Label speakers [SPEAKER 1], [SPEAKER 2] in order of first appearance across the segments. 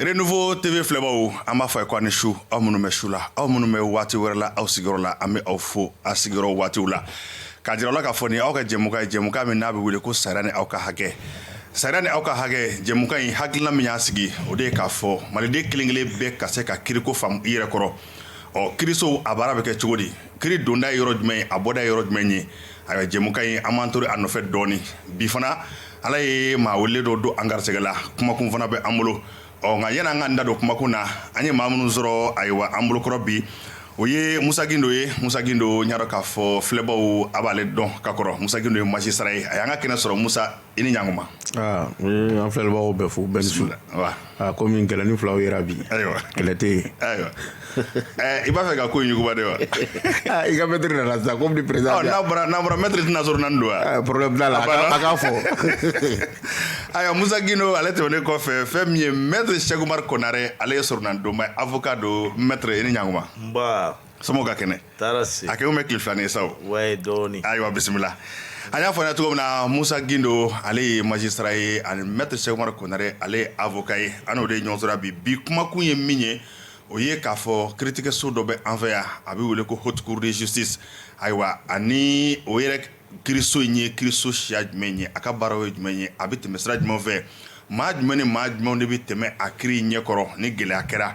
[SPEAKER 1] Renouveau TV filɛbaw an b'a fɔ aw ye ko aw ni su aw minnu bɛ su la aw minnu bɛ waati wɛrɛ la aw sigiyɔrɔ la an bɛ aw fo a sigiyɔrɔ waatiw la k'a jira aw la k'a fɔ nin aw ka jɛmukan ye jɛmukan min n'a bɛ wele ko sariya ni aw ka hakɛ sariya ni aw ka hakɛ jɛmukan in hakilina min y'a sigi o de ye k'a fɔ maliden kelenkelen bɛɛ ka se ka kiriko faamu i yɛrɛ kɔrɔ ɔ kiriso a baara bɛ kɛ cogo di kiri donda ye yɔrɔ jumɛn ye a bɔda ye yɔrɔ jumɛn ye ayiwa jɛmukan in an b'an to a nɔfɛ dɔɔni bi fana ala ye maa wele dɔ don an garisɛgɛ la kumakun fana bɛ an bolo ɔ nka yan'an ka da don kumakun na an ye maa minnu sɔrɔ ayiwa an bolokɔrɔ bi o ye musa gindo ye musa gindo n y'a dɔn k'a fɔ filɛbaw a b'ale dɔn ka kɔrɔ musa gindo ye magistrat ye a y'an ka kɛnɛ sɔrɔ musa i ni ɲakuma ah,
[SPEAKER 2] an filɛlibagaw bɛɛ fo bɛɛ ni su ah, komi gɛlɛni filaw yera bi ayiwa kɛlɛ tɛ yen ayiwa
[SPEAKER 1] eh, i b'a fɛ ka ko in yuguba de wa ah, i ka
[SPEAKER 2] maître nana sisan komi ni perezan n'a bɔra n'a bɔra
[SPEAKER 1] maître i tɛna soronadon wa problème t'a la a
[SPEAKER 2] k'a
[SPEAKER 1] fɔ ayiwa musa gindo ale tɛmɛnen kɔfɛ fɛn min ye maître cheick oumar konare ale ye soronadonba ye avocat don maître i ni ɲakuma nba somɔgɔw ka kɛnɛ taara se a kɛlen bɛ
[SPEAKER 3] tile filanin ye sa
[SPEAKER 1] o wayi dɔɔni
[SPEAKER 3] ayiwa
[SPEAKER 1] bisimila an y'a fɔ aw ye cogo min na musa gindo ale ye magistrat ye ani maître cheick oumar konare ale ye avocat ye an n'o de ye ɲɔgɔn sɔrɔ bi bi kumakun ye min ye o ye k'a fɔ kiritigɛso dɔ bɛ an fɛ yan a bɛ wele ko haute cour de justice ayiwa ani o yɛrɛ kiriso in ye kiriso siya jumɛn ye a ka baaraw ye jumɛn ye a bɛ tɛmɛ sira jumɛn fɛ maa jumɛn ni maa jumɛn de bɛ tɛmɛ a kiri ɲɛkɔrɔ ni gɛlɛya kɛra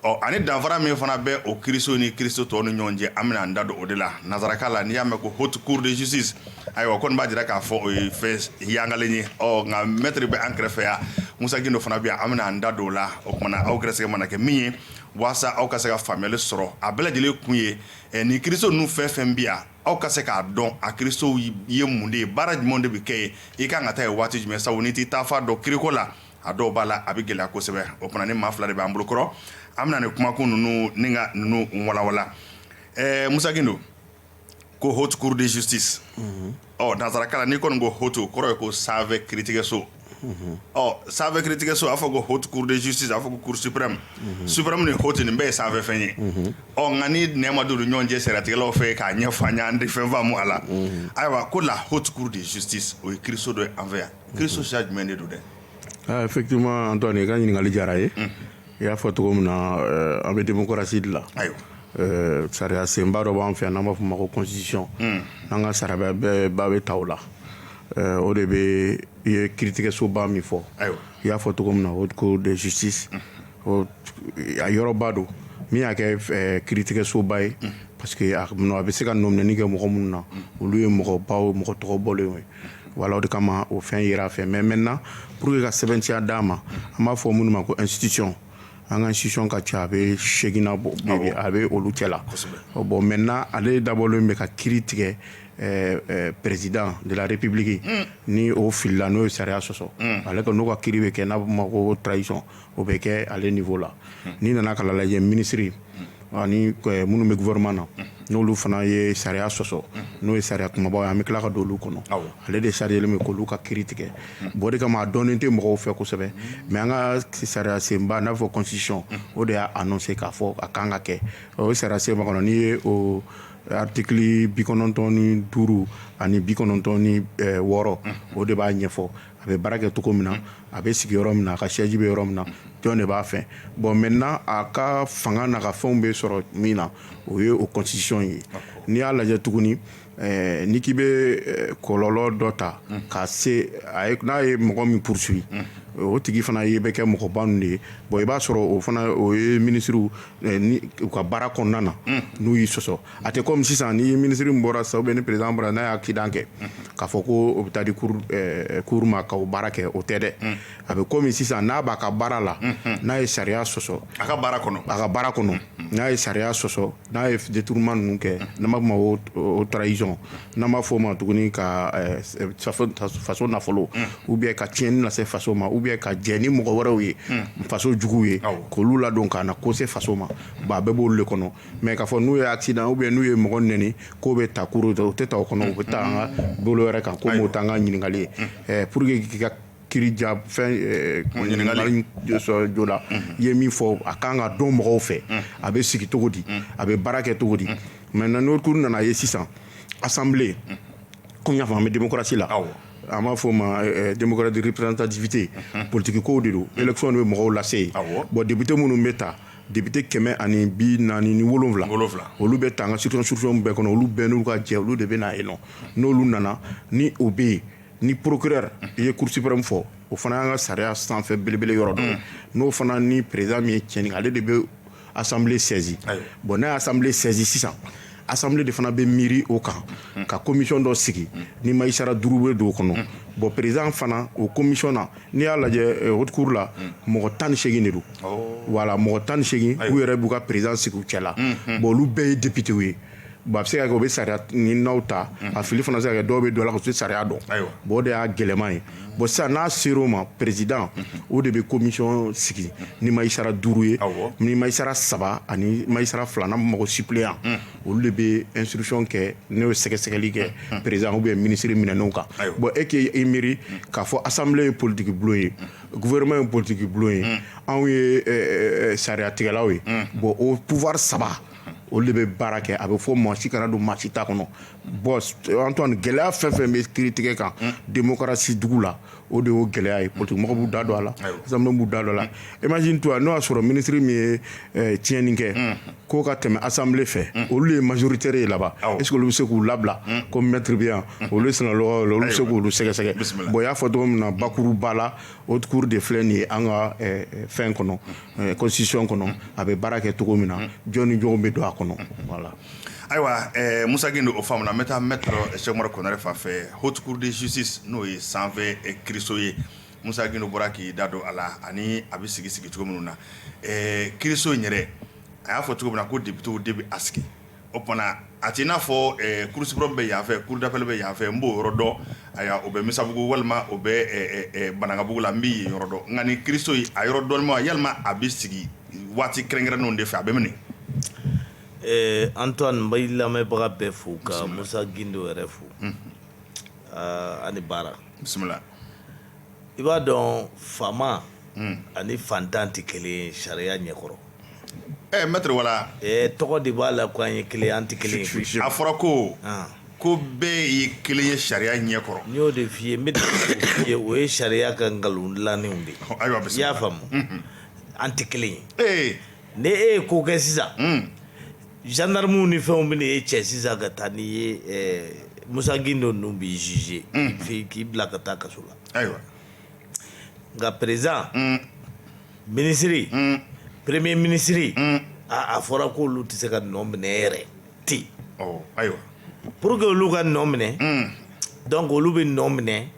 [SPEAKER 1] ɔ ani danfara min fana bɛ o kiiriso ni kiiriso tɔw ni ɲɔgɔn cɛ an bɛna an da don o de la nanzarakan la n'i y'a mɛn ko haute cour de justice ayiwa kɔni b'a jira k'a fɔ o ye fɛn yangalen ye ɔ nka maître bɛ an kɛrɛfɛ yan musa gindo fana bɛ yan an bɛna an da don o la o tuma na aw gɛrɛsɛgɛ mana kɛ min ye waasa aw ka se ka faamuyali sɔrɔ a bɛɛ lajɛlen kun ye eh, nin kiiriso ninnu fɛn fɛn bɛ yan aw ka se k'a dɔn a kiirisow ye mun de ye baara jumɛn de bɛ kɛ yen i kan ka taa yen waati jumɛn sabu n'i t'i taafan dɔn kiiriko la a dɔw b'a la a bɛ gɛlɛya kosɛbɛ o tuma nin maa fila de b'an bolokɔrɔ an bɛna nin kumakun ninnu ni ka ninnu walanwalan ɛɛ musa gindo ko haute cour de justice ɔ nansarakan la n'i kɔni ko haute o kɔrɔ ye ko sanfɛ kiiritigɛso ɔ sanfɛ kiiritigɛso a fɔ ko haute cour de justice a fɔ ko cour suprême suprême ni haute nin bɛɛ ye sanfɛfɛn ye ɔ nka ni nɛɛ ma don u ni ɲɔgɔn cɛ sariyatigɛlaw fɛ k'a ɲɛfɔ an ye an tɛ fɛn faamu a la ayiwa ko la haute cour de justice o ye kiiriso dɔ ye an fɛ yan kiiriso siya jumɛn de don dɛ effectivement Antoine
[SPEAKER 2] i ka ɲininkali diyara ye i y'a fɔ cogo min na an bɛ démocratie de la sariya senba dɔ b'an fɛ yan n'an b'a fɔ ma constitution n'an ka sariya bɛɛ bɛ ta o la o de bɛ i ye kiiritigɛsoba min fɔ i y'a fɔ cogo min na haute cour de justice a yɔrɔba don min y'a kɛ kiiritigɛsoba ye parce que a bɛ se ka nɔminɛni kɛ mɔgɔ minnu na olu ye mɔgɔbaw mɔgɔ tɔgɔ bɔlen ye Wala de kama o fɛn jira fɛ mɛ mɛn na p walasaur que ka sɛbɛnciya d'a ma an b'a fɔ minnu ma ko nsisic an ka si ka ca a bɛ seginna bɔ a bɛ olu cɛ la bɔn mɛ n na ale dabɔlen bɛ ka ki tigɛ perezd dare ppiliki ni oo fili n'o ye sariya sɔsɔ ale ka n'u ka ki bɛ kɛ n'a bɛ ma ko tarawelec o bɛ kɛ ale niveau la n'i nana ka lajɛ minisiri ani minnu bɛ gouvernement na n'olu fana ye sariya sɔsɔ n'o ye sariya kumabaw ye an bɛ tila ka don olu kɔnɔ ale de sariyalen bɛ k'olu ka kiiri tigɛ bon o de kama a dɔnnen tɛ mɔgɔw fɛ kosɛbɛ mais an ka sariya senba n'a fɔ constitution o de y'a annoncé k'a fɔ a kan ka kɛ o sariya sen kɔnɔ n'i ye o article bi kɔnɔntɔn ni duuru ani bi kɔnɔntɔn ni wɔɔrɔ o de b'a ɲɛfɔ a bɛ baara kɛ cogo min na a bɛ sigi yɔrɔ min na a ka siège bɛ yɔrɔ min na jɔn de b'a fɛ bon maintenant a ka fanga n'a ka fɛnw bɛ sɔrɔ min na o ye o constitution ye n'i y'a lajɛ tuguni eh, ni k'i bɛ eh, kɔlɔlɔ dɔ ta ka se n'a ye mɔgɔ min poursuit o tigi fana ye bɛ kɛ mɔgɔba ninnu de ye bon i b'a sɔrɔ o fana o ye minisiriw eh, u ka baara kɔnɔna na n'u y'i sɔsɔ a tɛ kɔmi sisan ni minisiri min bɔra sisan ni président bɔra n'a ye accident kɛ k'a fɔ ko o bɛ taa di cour ma k'o baara kɛ o tɛ dɛ a bɛ kɔmi sisan n'a b'a ka baara la n'a ye sariya sɔsɔ a
[SPEAKER 1] ka baara kɔnɔ n'a ye sariya
[SPEAKER 2] sɔsɔ n'a ye détournement ninnu kɛ n'an b'a fɔ ma haute trahison n'an b'a fɔ o ma tuguni ka faso nafolo ou bien ka tiɲɛni lase faso ma ou bien ka jɛ ni mɔgɔ wɛrɛw ye faso juguw ye k'olu ladon ka na ko se faso ma ba bɛɛ b'o de kɔnɔ mais k'a fɔ n'u ye accident ou bien n'u ye mɔgɔ nɛni k'o bɛ taa cour u tɛ taa o kɔnɔ u bɛ taa an ka bolo wɛrɛ kan komi o t'an ka ɲininkali ye eh, pour que k'i ka kiiri ja fɛn eh, ɲininkali sɔrɔ joona i ye min fɔ a kan ka dɔn mɔgɔw fɛ a bɛ sigi cogo di a bɛ baara kɛ cogo di maintenant n'o cour nana ye sisan assemblée komi n y'a fɔ an bɛ démocratie la an b'a fɔ o ma eh, eh, démocratie de représentativité politiki kow de don élection de bɛ mɔgɔw lase yen bon député minnu bɛ ta député kɛmɛ ani bi naani ni wolowula olu bɛ ta an ka circonscriptionw bɛɛ kɔnɔ olu bɛɛ n'u ka jɛ olu de bɛ na yen nɔ n'olu nana ni o bɛ yen ni procureur i ye cour suprême min fɔ o fana y'an ka sariya sanfɛ belebele yɔrɔ don n'o fana ni président min ye tiɲɛni ale de bɛ assemblée saisi bon n'a y'assemblée saisi sisan assemblée de fana bɛ miiri o kan ka commission dɔ sigi ni magistrat duuru bɛ don o kɔnɔ bon président fana o commission na n'i y'a lajɛ haute cour la mɔgɔ tan ni segin de don voilà mɔgɔ tan ni segin u yɛrɛ b'u ka président sigi u cɛ la bon olu bɛɛ ye députéw ye bon a bɛ se ka kɛ u bɛ sariya ni n'aw ta a fili fana se ka kɛ dɔw bɛ don la ka se sariya dɔn bon o de y'a gɛlɛman ye bon sisan n'a sera o ma président o de bɛ commission sigi ni magistrat duuru ye ni magistrat saba ani magistrat fila n'an b'a fɔ suppléant olu de bɛ instruction kɛ n'o ye sɛgɛsɛgɛli kɛ président ou bien ministre minɛnenw kan bon e k'i miiri k'a fɔ assemblée ye politique bulon ye gouvernement ye politique bulon ye anw ye sariyatigɛlaw ye bon o pouvoir saba olu de bɛ baara kɛ a bɛ fɔ maa si kana don maa si ta kɔnɔ bon Antoine gɛlɛya fɛn fɛn bɛ kiritigɛ kan démocratie dugu la o de y'o gɛlɛya ye politique mɔgɔ b'u da don a la assemblée b'u da don a la imagine toi n'o y'a sɔrɔ ministre min ye tiɲɛni kɛ k'o ka tɛmɛ assemblée fɛ olu ye majoritaire ye laban est-ce que olu bɛ se k'u labila comme maître bɛ yan olu ye sina olu bɛ se k'olu sɛgɛsɛgɛ bon i y'a fɔ cogo min na bakuruba la haute cour de filɛ nin ye an ka fɛn kɔnɔ constitution kɔnɔ a bɛ baara kɛ cogo min na jɔn ni jɔn bɛ don a kɔnɔ
[SPEAKER 1] Ayiwa Musa Gindo o faamuna n bɛ taa maître Cheikh Umaru Konare fan fɛ haute cour de justice n'o ye sanfɛ kiiriso ye Musa Gindo bɔra k'i da don a la ani a bɛ sigi sigi cogo minnu na kiiriso in yɛrɛ a y'a fɔ cogo min na ko députéw de bɛ a sigi o tuma na a tɛ i n'a fɔ cour suprême bɛ yanfɛ cour d'appel bɛ yanfɛ n b'o yɔrɔ dɔn a o bɛ Misabugu walima o bɛ Banankabugu la n bɛ yɔrɔ dɔn nka nin kiiriso a yɔrɔ dɔnna walima a bɛ sigi waati kɛrɛnkɛrɛnnenw de fɛ a bɛ minɛ Ɛɛ
[SPEAKER 3] Antoine n bɛ lamɛnbaga bɛɛ fo ka Musa Gindo yɛrɛ fo ani baara bisimila i b'a dɔn faama ani fantan tɛ kelen ye sariya ɲɛkɔrɔ ɛ maître
[SPEAKER 1] voilà tɔgɔ de b'a
[SPEAKER 3] la ko an ye kelen an tɛ kelen a fɔra
[SPEAKER 1] ko ko bɛɛ ye kelen ye sariya ɲɛkɔrɔ n y'o de f'i
[SPEAKER 3] ye o ye sariya ka nkalon dilannenw de ayiwa i y'a faamu an tɛ kelen ye ee ni e ye ko kɛ sisan gendarmew ni fɛnw bɛ n'e cɛ sisan ka taa n'i ye Musa Gindo ninnu b'i juger fɛ k'i bila ka taa kaso la ayiwa nka président ministre premier ministre aaa a fɔra ko olu tɛ se ka nɔ minɛ yɛrɛ ten
[SPEAKER 1] ayiwa pour que
[SPEAKER 3] olu ka nɔ minɛ donc olu bɛ nɔ minɛ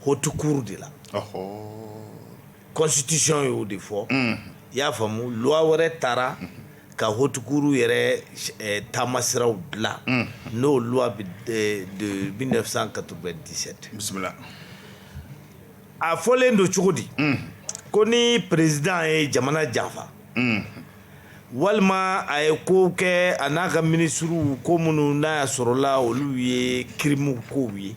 [SPEAKER 3] haute cour de la constitution y'o de fɔ i y'a faamu loi wɛrɛ taara ka haute cour yɛrɛ taamasiraw dilan n'o loi de mille neuf cent quatre-vingt-dix-sept bisimila a fɔlen don cogo di ko ni président ye jamana janfa walima a ye ko kɛ a n'a ka minisiriw ko minnu n'a y'a sɔrɔla olu ye crime kow ye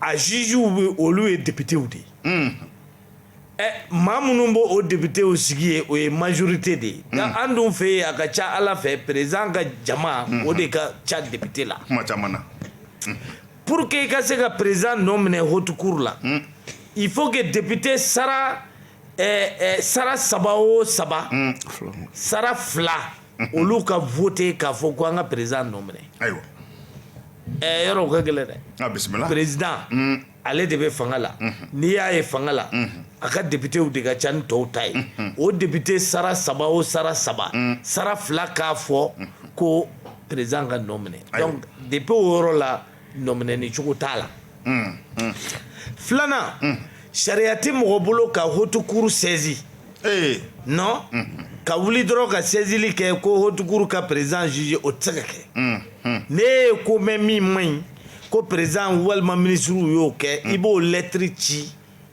[SPEAKER 3] a jugew bɛ olu ye députéw de ye ɛ maa minnu bɛ o députéw sigi ye o ye majorité de ye nka an dun fɛ yen a ka ca ala fɛ président ka jama o de ka ca député
[SPEAKER 1] la
[SPEAKER 3] pour que i ka se ka président nɔ minɛ haute cour la il faut que député sara saba o saba sara fila olu ka vote k'a fɔ ko an ka président nɔ minɛ ayiwa ɛɛ yɔrɔ o ka gɛlɛn dɛ a bisimila président ale de bɛ fanga la n'i y'a ye fanga la a ka députés de ka ca ni tɔw ta ye o député sara saba o sara saba sara fila k'a fɔ ko président ka nɔ minɛ donc depuis o yɔrɔ la nɔminɛni cogo t'a la mm, mm. filanan mm. sariya tɛ mɔgɔ bolo ka haute cour saisir eh. non ka wuli dɔrɔn ka sɛzili kɛ ko haute cour ka président juger o tɛ se ka kɛ ne ye ko mɛn min man ɲi ko président walima minisiriw y'o kɛ i b'o lɛtiri ci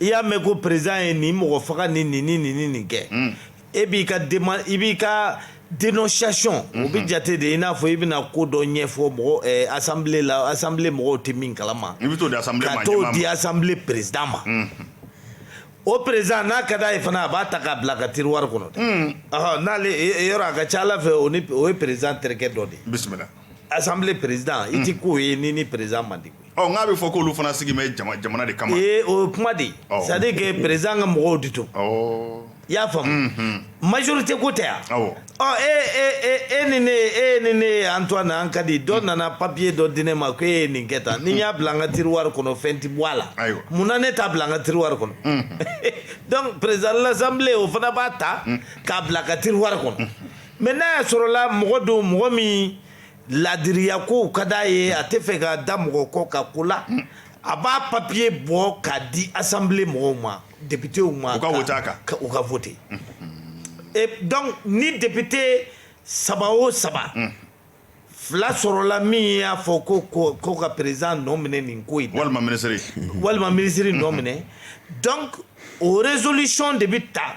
[SPEAKER 3] i y'a mɛn ko président ye nin mɔgɔ faga ni ni ni ni nin kɛ e b'i ka i b'i ka dénonciation o bɛ jate de i n'a fɔ i bɛna ko dɔ ɲɛfɔ mɔgɔ assemblée la assemblée mɔgɔw tɛ min kala ma i bɛ
[SPEAKER 1] t'o di
[SPEAKER 3] assemblée président ma o président n'a ka d'a ye fana a b'a ta k'a bila a ka tiroir kɔnɔ dɛ n'ale yɔrɔ a ka ca ala fɛ o ye président terikɛ dɔ de ye
[SPEAKER 1] assemblée
[SPEAKER 3] président i ti k'o ye n'i ni président man di koyi ɔ nk'a bɛ fɔ k'olu
[SPEAKER 1] fana sigi bɛ jama jamana de kama ee o ye kuma de
[SPEAKER 3] ye Awɔ. c'est à dire que président ka mɔgɔw de don ɔ i y'a faamu majorité ko tɛ yan awɔ ɔ e e e e ni ne e ni ne antoine an ka di dɔ nana papier dɔ di ne ma ko e ye nin kɛ tan ni n y'a bila an ka tiroir kɔnɔ fɛn ti bɔ a la Ayiwa. mun na ne t'a bila an ka tiroir kɔnɔ donc président de l'assemblée o fana b'a ta k'a bila a ka tiroir kɔnɔ Mais n'a y'a sɔrɔla mɔgɔ don mɔgɔ min laadiriya ko ka di a ye a tɛ fɛ ka da mɔgɔ kɔ ka ko la a b'a papier bɔ k'a di assemblée mɔgɔw ma députéw ma u ka voter donc ni député saba o saba fila sɔrɔla min y'a fɔ ko ka président nɔ minɛ nin ko in
[SPEAKER 1] walima minisiri
[SPEAKER 3] nɔ minɛ donc o résolution de bɛ taa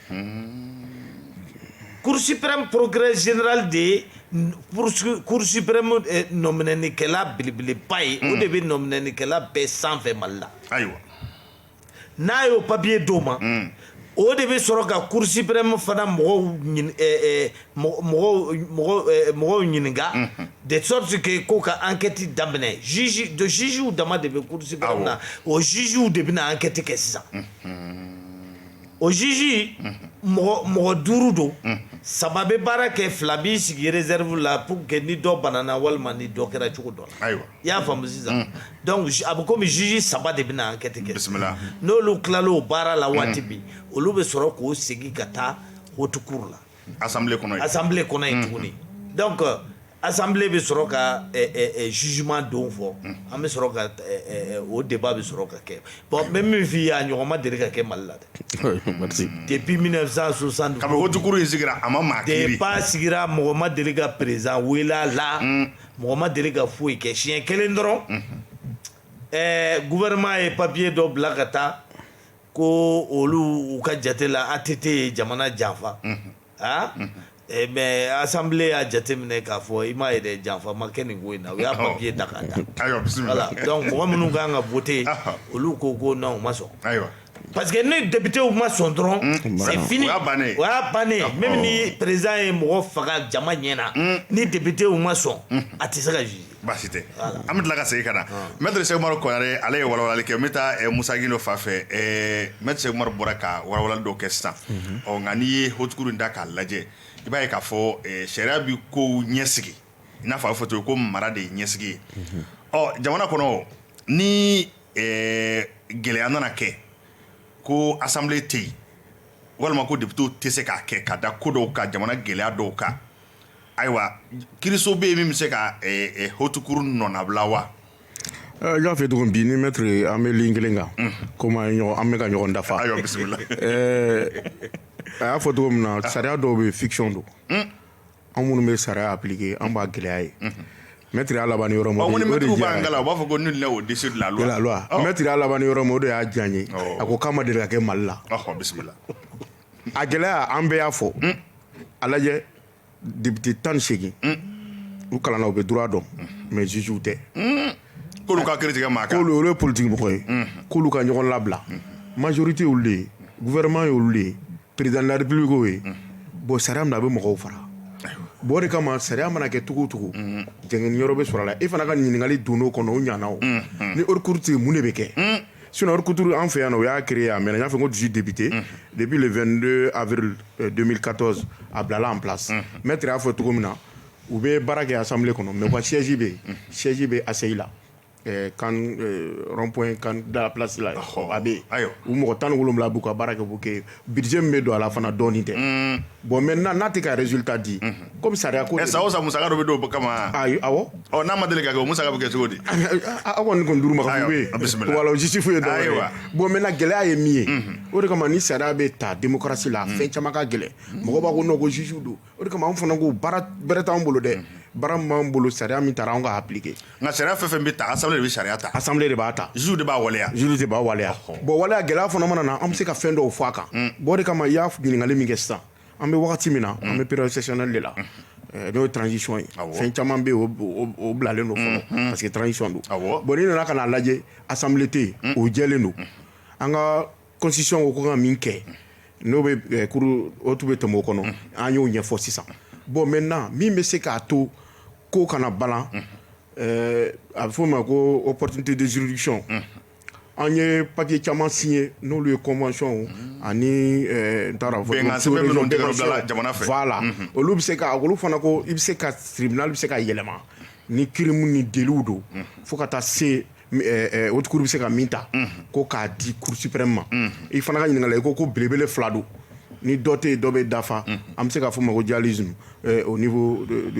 [SPEAKER 3] cour suprême procureur général de ye cour suprême eh, nɔminɛnikɛla belebeleba ye o de bɛ nɔminɛnikɛla bɛɛ sanfɛ mali la ayiwa n'a y'o papiye d'o ma o de bɛ sɔrɔ ka cour suprême fana mɔgɔw ɲin- eh, eh, mɔgɔ- mɔgɔw mɔgɔw eh, mɔgɔw ɲininka de sorte que ko ka enquête daminɛ juge de jugew dama de bɛ cour suprême na o jugew de bɛna enquête kɛ sisan O juge mɔgɔ duuru don saba bɛ baara kɛ fila b'i sigi réserve la pour que ni dɔ banana walima ni dɔ kɛra cogo dɔ la i y'a faamu sisan donc a bɛ kɔmi juge saba de bɛna enquête kɛ bisimila n'olu tilala o baara la waati min olu bɛ sɔrɔ k'o segin ka taa haute cour la assemblée kɔnɔ assemblée kɔnɔ yen tuguni donc assemblée bɛ sɔrɔ ka jugement don fɔ an bɛ sɔrɔ ka o débat bɛ sɔrɔ ka kɛ bon n bɛ min f'i ye a ɲɔgɔn ma deli ka kɛ mali la dɛ depuis mille neuf cent soixante kabini haute cour in
[SPEAKER 1] sigira a ma maa kiiri débat sigira
[SPEAKER 3] mɔgɔ ma deli ka président wele a la mɔgɔ ma deli ka foyi kɛ siɲɛ kelen dɔrɔn ɛɛ gouvernement ye papiye dɔ bila ka taa ko olu u ka jate la ATT ye jamana janfa, unhun, aa, unhun, ɛ mais assemblée y'a jateminɛ k'a fɔ i m'a ye dɛ janfa ma kɛ nin ko in na, u y'a papier ta k'a da, ayiwa bisimila, voilà donc mɔgɔ minnu ka kan ka voter olu ko ko non u ma sɔn, ayiwa, parce que ni députés ma sɔn dɔrɔn c'est fini, o y'a bannen ye, o y'a bannen ye, même ni président ye mɔgɔ faga jama ɲɛna, un, ni députés ma sɔn, unhun, a tɛ se ka juger baasi tɛ an
[SPEAKER 1] bɛ tila ka segin ka na maître Cheick Oumar Konaré ale ye walawalali kɛ n bɛ taa Moussa Guindo fan fɛ maître Cheick Oumar bɔra ka walawalali dɔ kɛ sisan ɔ nka n'i ye haute cour in da k'a lajɛ i b'a ye k'a fɔ sariya bɛ kow ɲɛsigi i n'a fɔ a bɛ fɔ cogo ko mara de ye ɲɛsigi ye ɔ jamana kɔnɔ ni gɛlɛya nana kɛ ko assemblée tɛ yen walima ko députéw tɛ se k'a kɛ ka da ko dɔw kan jamana gɛlɛya dɔw kan Ayiwa kiiriso bɛ yen min bɛ se ka haute cour nɔnabila wa
[SPEAKER 2] n y'a fɔ cogo min bi n ni maître an bɛ ligne kelen kan kɔmi an bɛ ka ɲɔgɔn dafa a y'a fɔ cogo min na sariya dɔw bɛ fiction don anw minnu bɛ sariya appliquer an b'a gɛlɛya ye maître y'a laban yɔrɔ min na u b'a fɔ
[SPEAKER 1] ko nul n'est au-dessus de la loi maître y'a laban yɔrɔ
[SPEAKER 2] min na o de y'a diya n ye a ko k'a ma deli ka kɛ mali la
[SPEAKER 1] a
[SPEAKER 2] gɛlɛya an bɛɛ y'a fɔ a lajɛ député 18 u kalanna u bɛ droit dɔn mais jugew tɛ
[SPEAKER 1] k'olu ka kiiri tigɛ maa kan k'olu olu ye politique mɔgɔ ye
[SPEAKER 2] k'olu ka ɲɔgɔn labila majorité y'olu de ye gouvernement y'olu de ye président de la république y'o ye bon sariya min na a bɛ mɔgɔw fara bon o de kama sariya mana kɛ cogo o cogo jɛngɛni yɔrɔ bɛ sɔrɔ a la e fana ka ɲininkali donn'o kɔnɔ o ɲana o ni haute cour tɛ yen mun de bɛ kɛ Sinon kuturu an fɛ yan o y'a kire a mɛ n y'a fɔ ko dusu debite depi 2 ari don ka a bilala an bila mɛ y'a fɔ cogo min na u bɛ baara kɛ a sanfɛ kɔnɔ mɛ wa sɛji bɛ yen sɛji bɛ a seyi la kanp da plasila a bɛ u mɔgɔ tan ni wolowula b'u ka baara kɛ' kɛ Budget min bɛ don a la fana dɔɔnin tɛ bon maintenant n'a tɛ ka résultat di comme sariya ko sa o sa musaka dɔ bɛ don o
[SPEAKER 1] kama n'a
[SPEAKER 2] ma deli ka kɛ
[SPEAKER 1] musaka bɛ kɛ cogo di aw kɔni
[SPEAKER 2] nin duuru masifu ye bon maintenant gɛlɛya ye min ye o de kama ni sariya bɛ ta démocratie la fɛn caman ka gɛlɛn mɔgɔ b'a ko non ko juge don o de kama an fana ko baara bɛrɛ t'an bolo dɛ baara min b'an bolo sariya min taara an k'a appliquer nka sariya fɛn fɛn
[SPEAKER 1] bɛ ta assemblée de bɛ sariya ta assemblée de b'a ta juge de
[SPEAKER 2] b'a waleya juge
[SPEAKER 1] de b'a waleya
[SPEAKER 2] bon waleya gɛlɛya fana mana na an bɛ se ka fɛn dɔw fɔ a kan bon o de kama i y'a ɲininkali min kɛ sisan an bɛ wagati min na an bɛ période exceptionnelle de la eh, n'o ye transition ye fɛn caman bɛ yen o bilalen don fɔlɔ parce que transition don bon n'i nana ka n'a lajɛ assemblée tɛ yen o jɛlen don an ka constitution ko ko ka min kɛ n'o bɛ o tun bɛ tɛmɛ o kɔnɔ an y'o ɲɛfɔ sisan bon maintenant min bɛ se k'a to ko kana balan a bɛ f'o ma ko opportunité de juridiction an ye papier caman signé n'olu ye convention ani n t'a dɔn voilà olu bɛ se ka olu fana ko i bɛ se ka tribunal bɛ se ka yɛlɛma ni crime ni délitw don fo ka taa se o bɛ se ka min ta ko k'a di kurusiprɛ ma i fana ka ɲininka i ko ko belebele fila don ni dɔ tɛ dɔ bɛ dafa an bɛ se k'a fɔ ma ko ja z o ni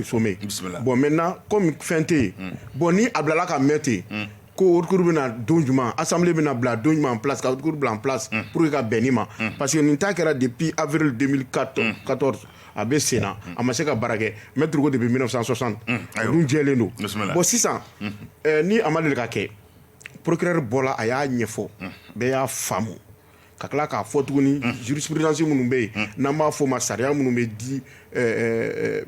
[SPEAKER 2] so bɔn mɛ na kɔmi fɛn tɛ yen bɔn ni a bilala ka mɛn ten yen ko wariuru bɛna na don jumɛn a sanbilen bɛna na bila don ɲuman pkuru bila p pur que ka bɛn ni ma parce que nin ta kɛra de bi awurri ka katɔ a bɛ sen na a ma se ka baara kɛ maître ko depuis mille neuf cent soixante a dun jɛlen don bon sisan ni a ma deli ka kɛ procureur bɔra a y'a ɲɛfɔ bɛɛ y'a faamu ka tila k'a fɔ tuguni jurisprudence minnu bɛ yen n'an b'a fɔ ma sariya minnu bɛ di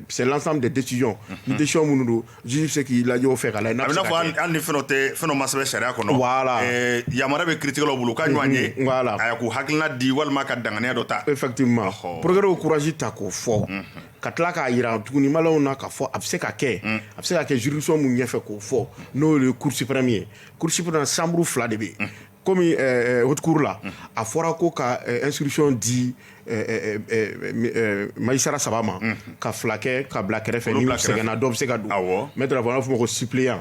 [SPEAKER 2] c'est l'ensemble des décisions ni décision minnu don juge bɛ se k'i lajɛ o fɛ ka lajɛ n'a bɛ se ka kɛ. A bɛ n'a fɔ hali hali ni fɛn
[SPEAKER 1] dɔ tɛ fɛn dɔ ma sɛbɛn sariya kɔnɔ. Voilà.
[SPEAKER 2] Ɛɛ yamaruya bɛ
[SPEAKER 1] kiiritigɛlaw bolo u ka ɲɔgɔn ye. Unhun, voilà. Aya k'u hakilina
[SPEAKER 2] di
[SPEAKER 1] walima ka danganiya dɔ ta. Effectivement. Ɔhɔ.
[SPEAKER 2] Procureur ye courage ta k'o fɔ. Ka tila k'a jira tuguni maliyɛnw na k'a fɔ a bɛ se ka kɛ. A bɛ se ka kɛ juridiction min ɲɛfɛ k'o fɔ n'o ye cour suprême ye. Cour suprême na chambre fila de bɛ yen. comme haute cour la a fɔra ko ka instruction di magistrat saba ma ka fila kɛ ka bila kɛrɛfɛ ni sɛgɛnna dɔ bɛ se ka don maître b'a fɔ ko suppléant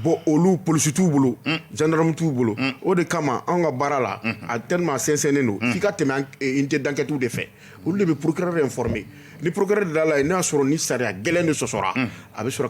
[SPEAKER 2] bon olu polisi t'u bolo gendarme t'u bolo o de kama an ka baara la a tellement sɛnsɛnnen don f'i ka tɛmɛ unité d'enquêtew de fɛ olu de bɛ procureur informer ni procureur de da la n'a y'a sɔrɔ ni sariya gɛlɛn de sɔsɔra a bɛ sɔrɔ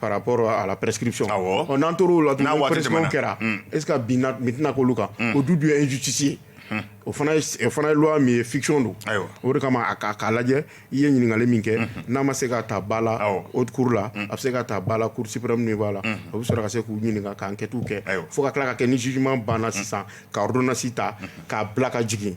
[SPEAKER 2] Par rapport à la prescription n'an tor'o la kɛra est-ce que bin tɛna k'olu kan o du dun ye injustice ye o fana ye loi min ye fiction don o de kama a k'a lajɛ i ye ɲininkali min kɛ n'a ma se ka taa ba la haute cour la a bɛ se ka taa ba la cour suprême niveau la o bɛ sɔrɔ ka se k'u ɲininka ka enquêtew kɛ fo ka tila ka kɛ ni jugement banna sisan ka ordonnance ta k'a bila ka jigin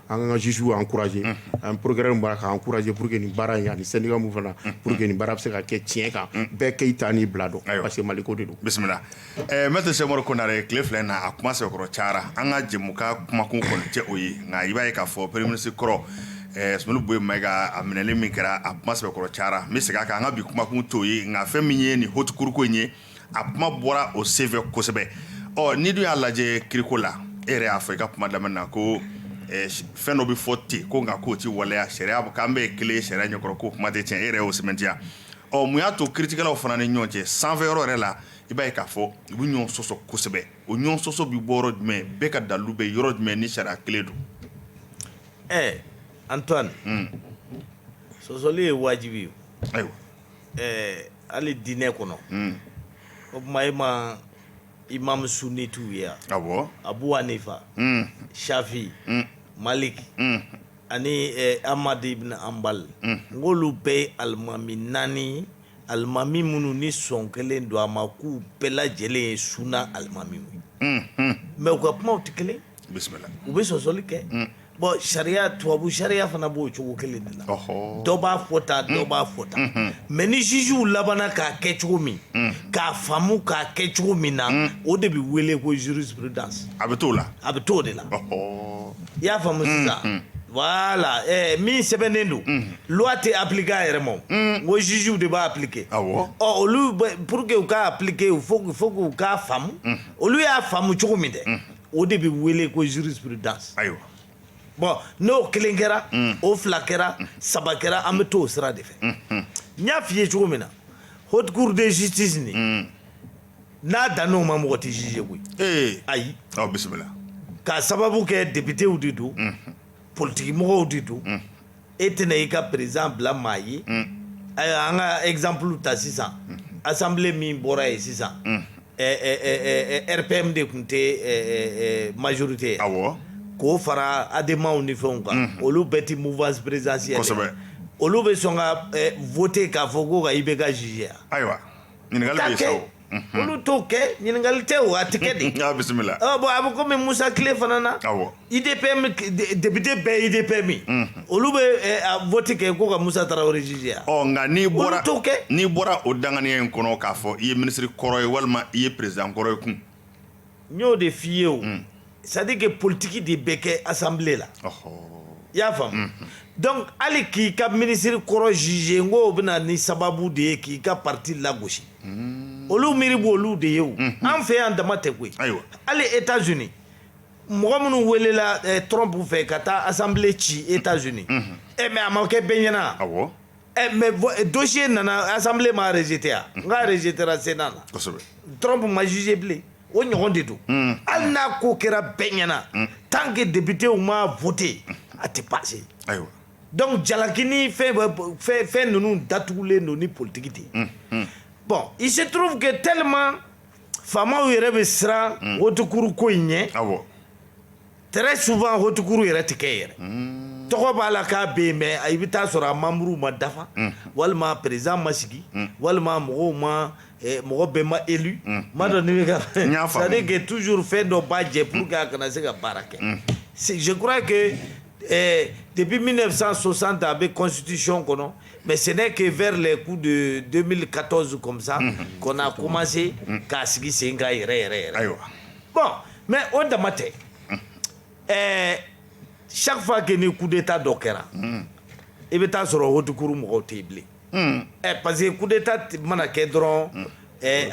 [SPEAKER 2] an ka juges encourager an procureur b'a la k'a encourager pour que nin baara ye ani syndicat mun fana pour que nin baara bɛ se ka kɛ tiɲɛ kan bɛɛ k'i ta n'i bila dɔn parce que mali ko de don bisimila
[SPEAKER 1] maître Cheick Oumar Konaré tile fila in na a kuma sɛbɛkɔrɔ cayara an ka jɛmukan kumakun kɔni tɛ o ye nka i b'a ye k'a fɔ premier ministre kɔrɔ Soumeylou Boubèye Maïga a minɛli min kɛra a kuma sɛbɛkɔrɔ cayara n bɛ segin a kan an ka bi kumakun t'o ye nka fɛn min ye nin haute cour ko in ye a kuma bɔra o senfɛ kosɛbɛ ɔ ni dun y'a lajɛ kiriko la e yɛrɛ y'a fɔ i ka kuma daminɛ na ko eh, fɛn dɔ bɛ fɔ ten ko nka k'o tɛ waleya sariya k'an bɛɛ ye kelen ye sariya ɲɛkɔrɔ k'o kuma tɛ tiɲɛ e yɛrɛ y'o sɛmɛntiya ɔ mun y'a to kiritigɛlaw fana ni ɲɔgɔn cɛ sanfɛ yɔrɔ yɛrɛ la i b'a ye k'a fɔ u bɛ ɲɔgɔn sɔsɔ kosɛbɛ o ɲɔgɔn sɔsɔ bɛ bɔ yɔrɔ jumɛn bɛɛ ka dalilu bɛ yɔrɔ jumɛn ni sariya kelen don ɛɛ
[SPEAKER 3] antoine sɔsɔli ye wajibi ye ayiwa
[SPEAKER 1] ɛɛ
[SPEAKER 3] hali diinɛ kɔnɔ o tuma ima imam sunnitew ye awɔ Abu
[SPEAKER 1] Hanifa
[SPEAKER 3] Shafi Malik ani Ahmad ibn Hanbal n k'olu bɛɛ ye alimami naani alimami minnu ni sɔn kɛlen don a ma k'u bɛɛ lajɛlen ye suna alimamiw ye mais u ka kumaw tɛ kelen bisimila u bɛ
[SPEAKER 1] sɔsɔli kɛ
[SPEAKER 3] Bon sariya tubabu sariya fana b'o cogo kelen de la dɔ b'a fɔ tan dɔ b'a fɔ tan mais ni jugew labanna k'a kɛ cogo min k'a faamu k'a kɛ cogo min na o de bɛ wele ko jurisprudence a bɛ t'o la a
[SPEAKER 1] bɛ t'o de la
[SPEAKER 3] i y'a faamu sisan voilà min sɛbɛnnen don loi tɛ appliquer a yɛrɛ ma ko jugew de b'a appliquer ɔ olu pour que u k'a appliquer il faut que u k'a faamu olu y'a faamu cogo min dɛ o de bɛ wele ko jurisprudence
[SPEAKER 1] ayiwa
[SPEAKER 3] bon n'o kelen kɛra o fila kɛra saba kɛra an bɛ to o sira de fɛ n y'a f'i ye cogo min na haute cour de justice nin n'a danna o ma mɔgɔ tɛ juger koyi ayi bisimila
[SPEAKER 1] k'a sababu
[SPEAKER 3] kɛ députéw de don politikimɔgɔw de don e tɛna i ka président bila maa ye ayiwa an ka exemple ta sisan assemblée min bɔra yen sisan RPM de tun tɛ majorité ye k'o fara ademaw ni fɛnw kan olu bɛɛ tɛ mouvance présidentielle olu
[SPEAKER 1] bɛ sɔn ka
[SPEAKER 3] voter k'a fɔ ko ka IBK juger ayiwa
[SPEAKER 1] olu t'o
[SPEAKER 3] kɛ ɲininkali tɛ o a tɛ kɛ de a bisimila ɔ bon a
[SPEAKER 1] bɛ komi
[SPEAKER 3] musa tile fana na awɔ udpm député bɛɛ ye udpm ye olu bɛ vote kɛ ko ka musa tarawele juger yan ɔ nka n'i bɔra
[SPEAKER 1] olu t'o kɛ n'i bɔra o danganiya in kɔnɔ k'a fɔ i ye minisiri kɔrɔ ye walima i ye président kɔrɔ ye kun n y'o
[SPEAKER 3] de f'i ye o mm. c'est à dire que politique de bɛ kɛ assemblée la i y'a faamu mm, mm. donc hali k'i ka minisiri kɔrɔ juger n k'o bɛ na ni sababu de ye k'i ka parti lagosi olu miiri b'olu de ye o mm-hmm. an fɛ yan dama tɛ koyi hali états unis mɔgɔ minnu welela eh, trump fɛ ka taa assemblée ci états unis mm-hmm. e eh, mais a ma kɛ bɛɛ ɲɛna Ɛ mɛ dɔsi nana asanbilen ma alize tɛ yan n ka alize tɛ sen na dɔrɔn ma zze bilen o ɲɔgɔn de don hali n'a ko kɛra bɛɛ ɲɛnaana tan kɛ debitew ma foyit yen a tɛ pase dɔnku jalakinin fɛn ninnu datugulen don ni politigi de ye bɔn i se turufu kɛ teelima faamaw yɛrɛ bɛ siran otokuruko in ɲɛ Très souvent haute cour yɛrɛ tɛ kɛ yɛrɛ, unn, tɔgɔ b'a la k'a bɛ yen mais i bɛ taa sɔrɔ a membres ma dafa, unhun, walima président ma sigi, unhun, walima mɔgɔw ma mɔgɔ bɛɛ ma élu n m'a dɔn n'i bɛ ka fɛn, n y'a faamu, c'est à dire que toujours fɛn dɔ b'a jɛ pour que a kana se ka baara kɛ, unhun, je crois que ɛɛ depuis 1960 a bɛ constitution kɔnɔ mais ce n'est que vers les coups de 2014 comme ça qu'on a commencé k'a sigi sen kan yɛrɛ yɛrɛ yɛrɛ, ayiwa bɔn mɛ o dama tɛ ɛɛ safa kɛ ni kudeta dɔ kɛra i bɛ taa sɔrɔ wotukuru mɔgɔw tɛ yen bilen ɛ parce que kudeta mana kɛ dɔrɔn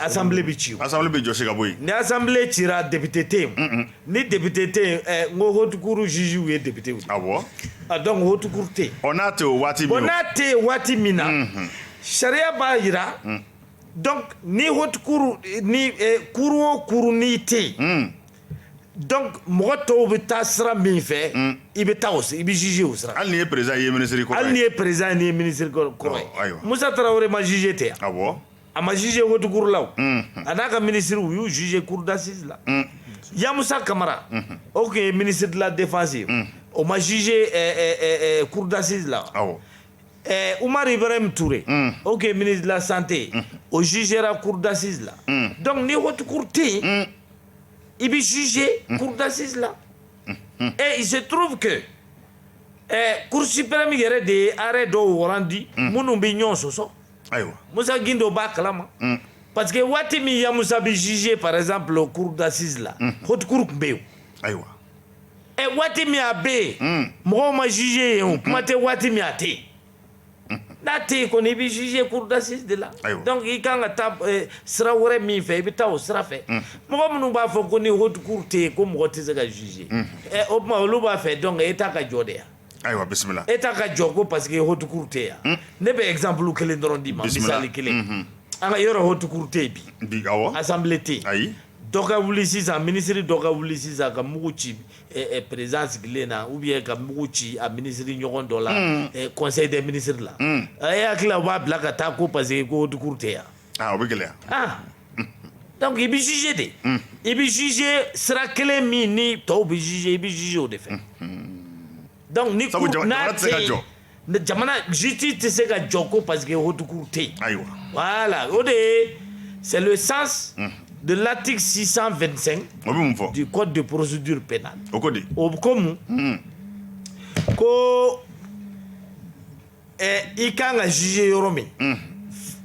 [SPEAKER 3] asanbilen bɛ ci asan bɛ jɔsi ka bɔ yen
[SPEAKER 1] ni asanbilen ci
[SPEAKER 3] debite tɛ yen ni debite tɛ yen n ko htukuru zsiw ye debitew a bɔ a dɔn ko htukuru tɛ yen n'a tɛ waati n'a
[SPEAKER 1] tɛ yen waati min
[SPEAKER 3] na sariya b'a jira donc ni haute cour ni eh, cour o cour nin tɛ yen hmm. donc mɔgɔ tɔw bɛ taa sira min fɛ hmm. i bɛ taa o i bɛ juger o sira hali n'i ye président ye minisiri
[SPEAKER 1] kɔrɔ hali n'i ye président ye n'i ye
[SPEAKER 3] minisiri kɔrɔ ye Musa Tarawele ma juger ten yan awɔ a ma juger haute cour la o hmm. a n'a ka minisiri u y'u juger cour d'assises la Yamusa Kamara o tun ye ministre de la défense ye o ma juger eh, eh, cour d'assises la awɔ Ɛɛ Umaru Ibarahim Ture unn o tun ye ministre de la Santé unhun o jugera cour d'assises la unn donc ni haute cour tɛ yen unn i bɛ juger unhun cour d'assises la unhun et il se trouve que ɛɛ cour suprême yɛrɛ de ye arrêt dɔw rendu unhun minnu bɛ ɲɔgɔn sɔsɔ ayiwa Musa Gindo b'a kalama unhun parce que waati min Yamusa bɛ juger par exemple cour d'assises la unhun haute cour tun bɛ yen o ayiwa ɛ waati min a bɛ yen hmm. mɔgɔw ma juger yen o kuma tɛ waati min a tɛ yen n'a tɛ yen kɔni i bɛ juger cour d'assises de la donc i kan ka taa eh, sira wɛrɛ min fɛ i bɛ taa o sira fɛ hmm. mɔgɔ minnu b'a fɔ ko ni haute cour tɛ yen ko mɔgɔ tɛ se ka juger hmm. eh, o tuma olu b'a fɛ donc État ka jɔ de yan ayiwa bisimila
[SPEAKER 1] État ka jɔ ko
[SPEAKER 3] parce que haute cour tɛ yan ne bɛ exemple kelen dɔrɔn d'i ma misali kelen an ka yɔrɔ haute cour tɛ yen bi assemblée tɛ yen Dɔ ka
[SPEAKER 1] wuli
[SPEAKER 3] sisan minisiri dɔ ka wuli sisan ka mugu ci président sigilen na ou bien ka mugu ci a minisiri ɲɔgɔn dɔ la conseil des ministres la e hakili la u b'a bila ka taa ko parce que ko haute cour tɛ yan o bɛ gɛlɛya donc i bɛ juger de i bɛ juger sira kelen min ni tɔw bɛ juger i bɛ juger o de fɛ donc ni cour yen jamana justice tɛ se ka jɔ ko parce que haute cour tɛ yen ayiwa
[SPEAKER 1] voilà o de
[SPEAKER 3] ye c'est le sens de l'article 625 o bɛ mun fɔ du code de procédure pénale o ko di o ko mun ko ɛ i kan ka juger yɔrɔ min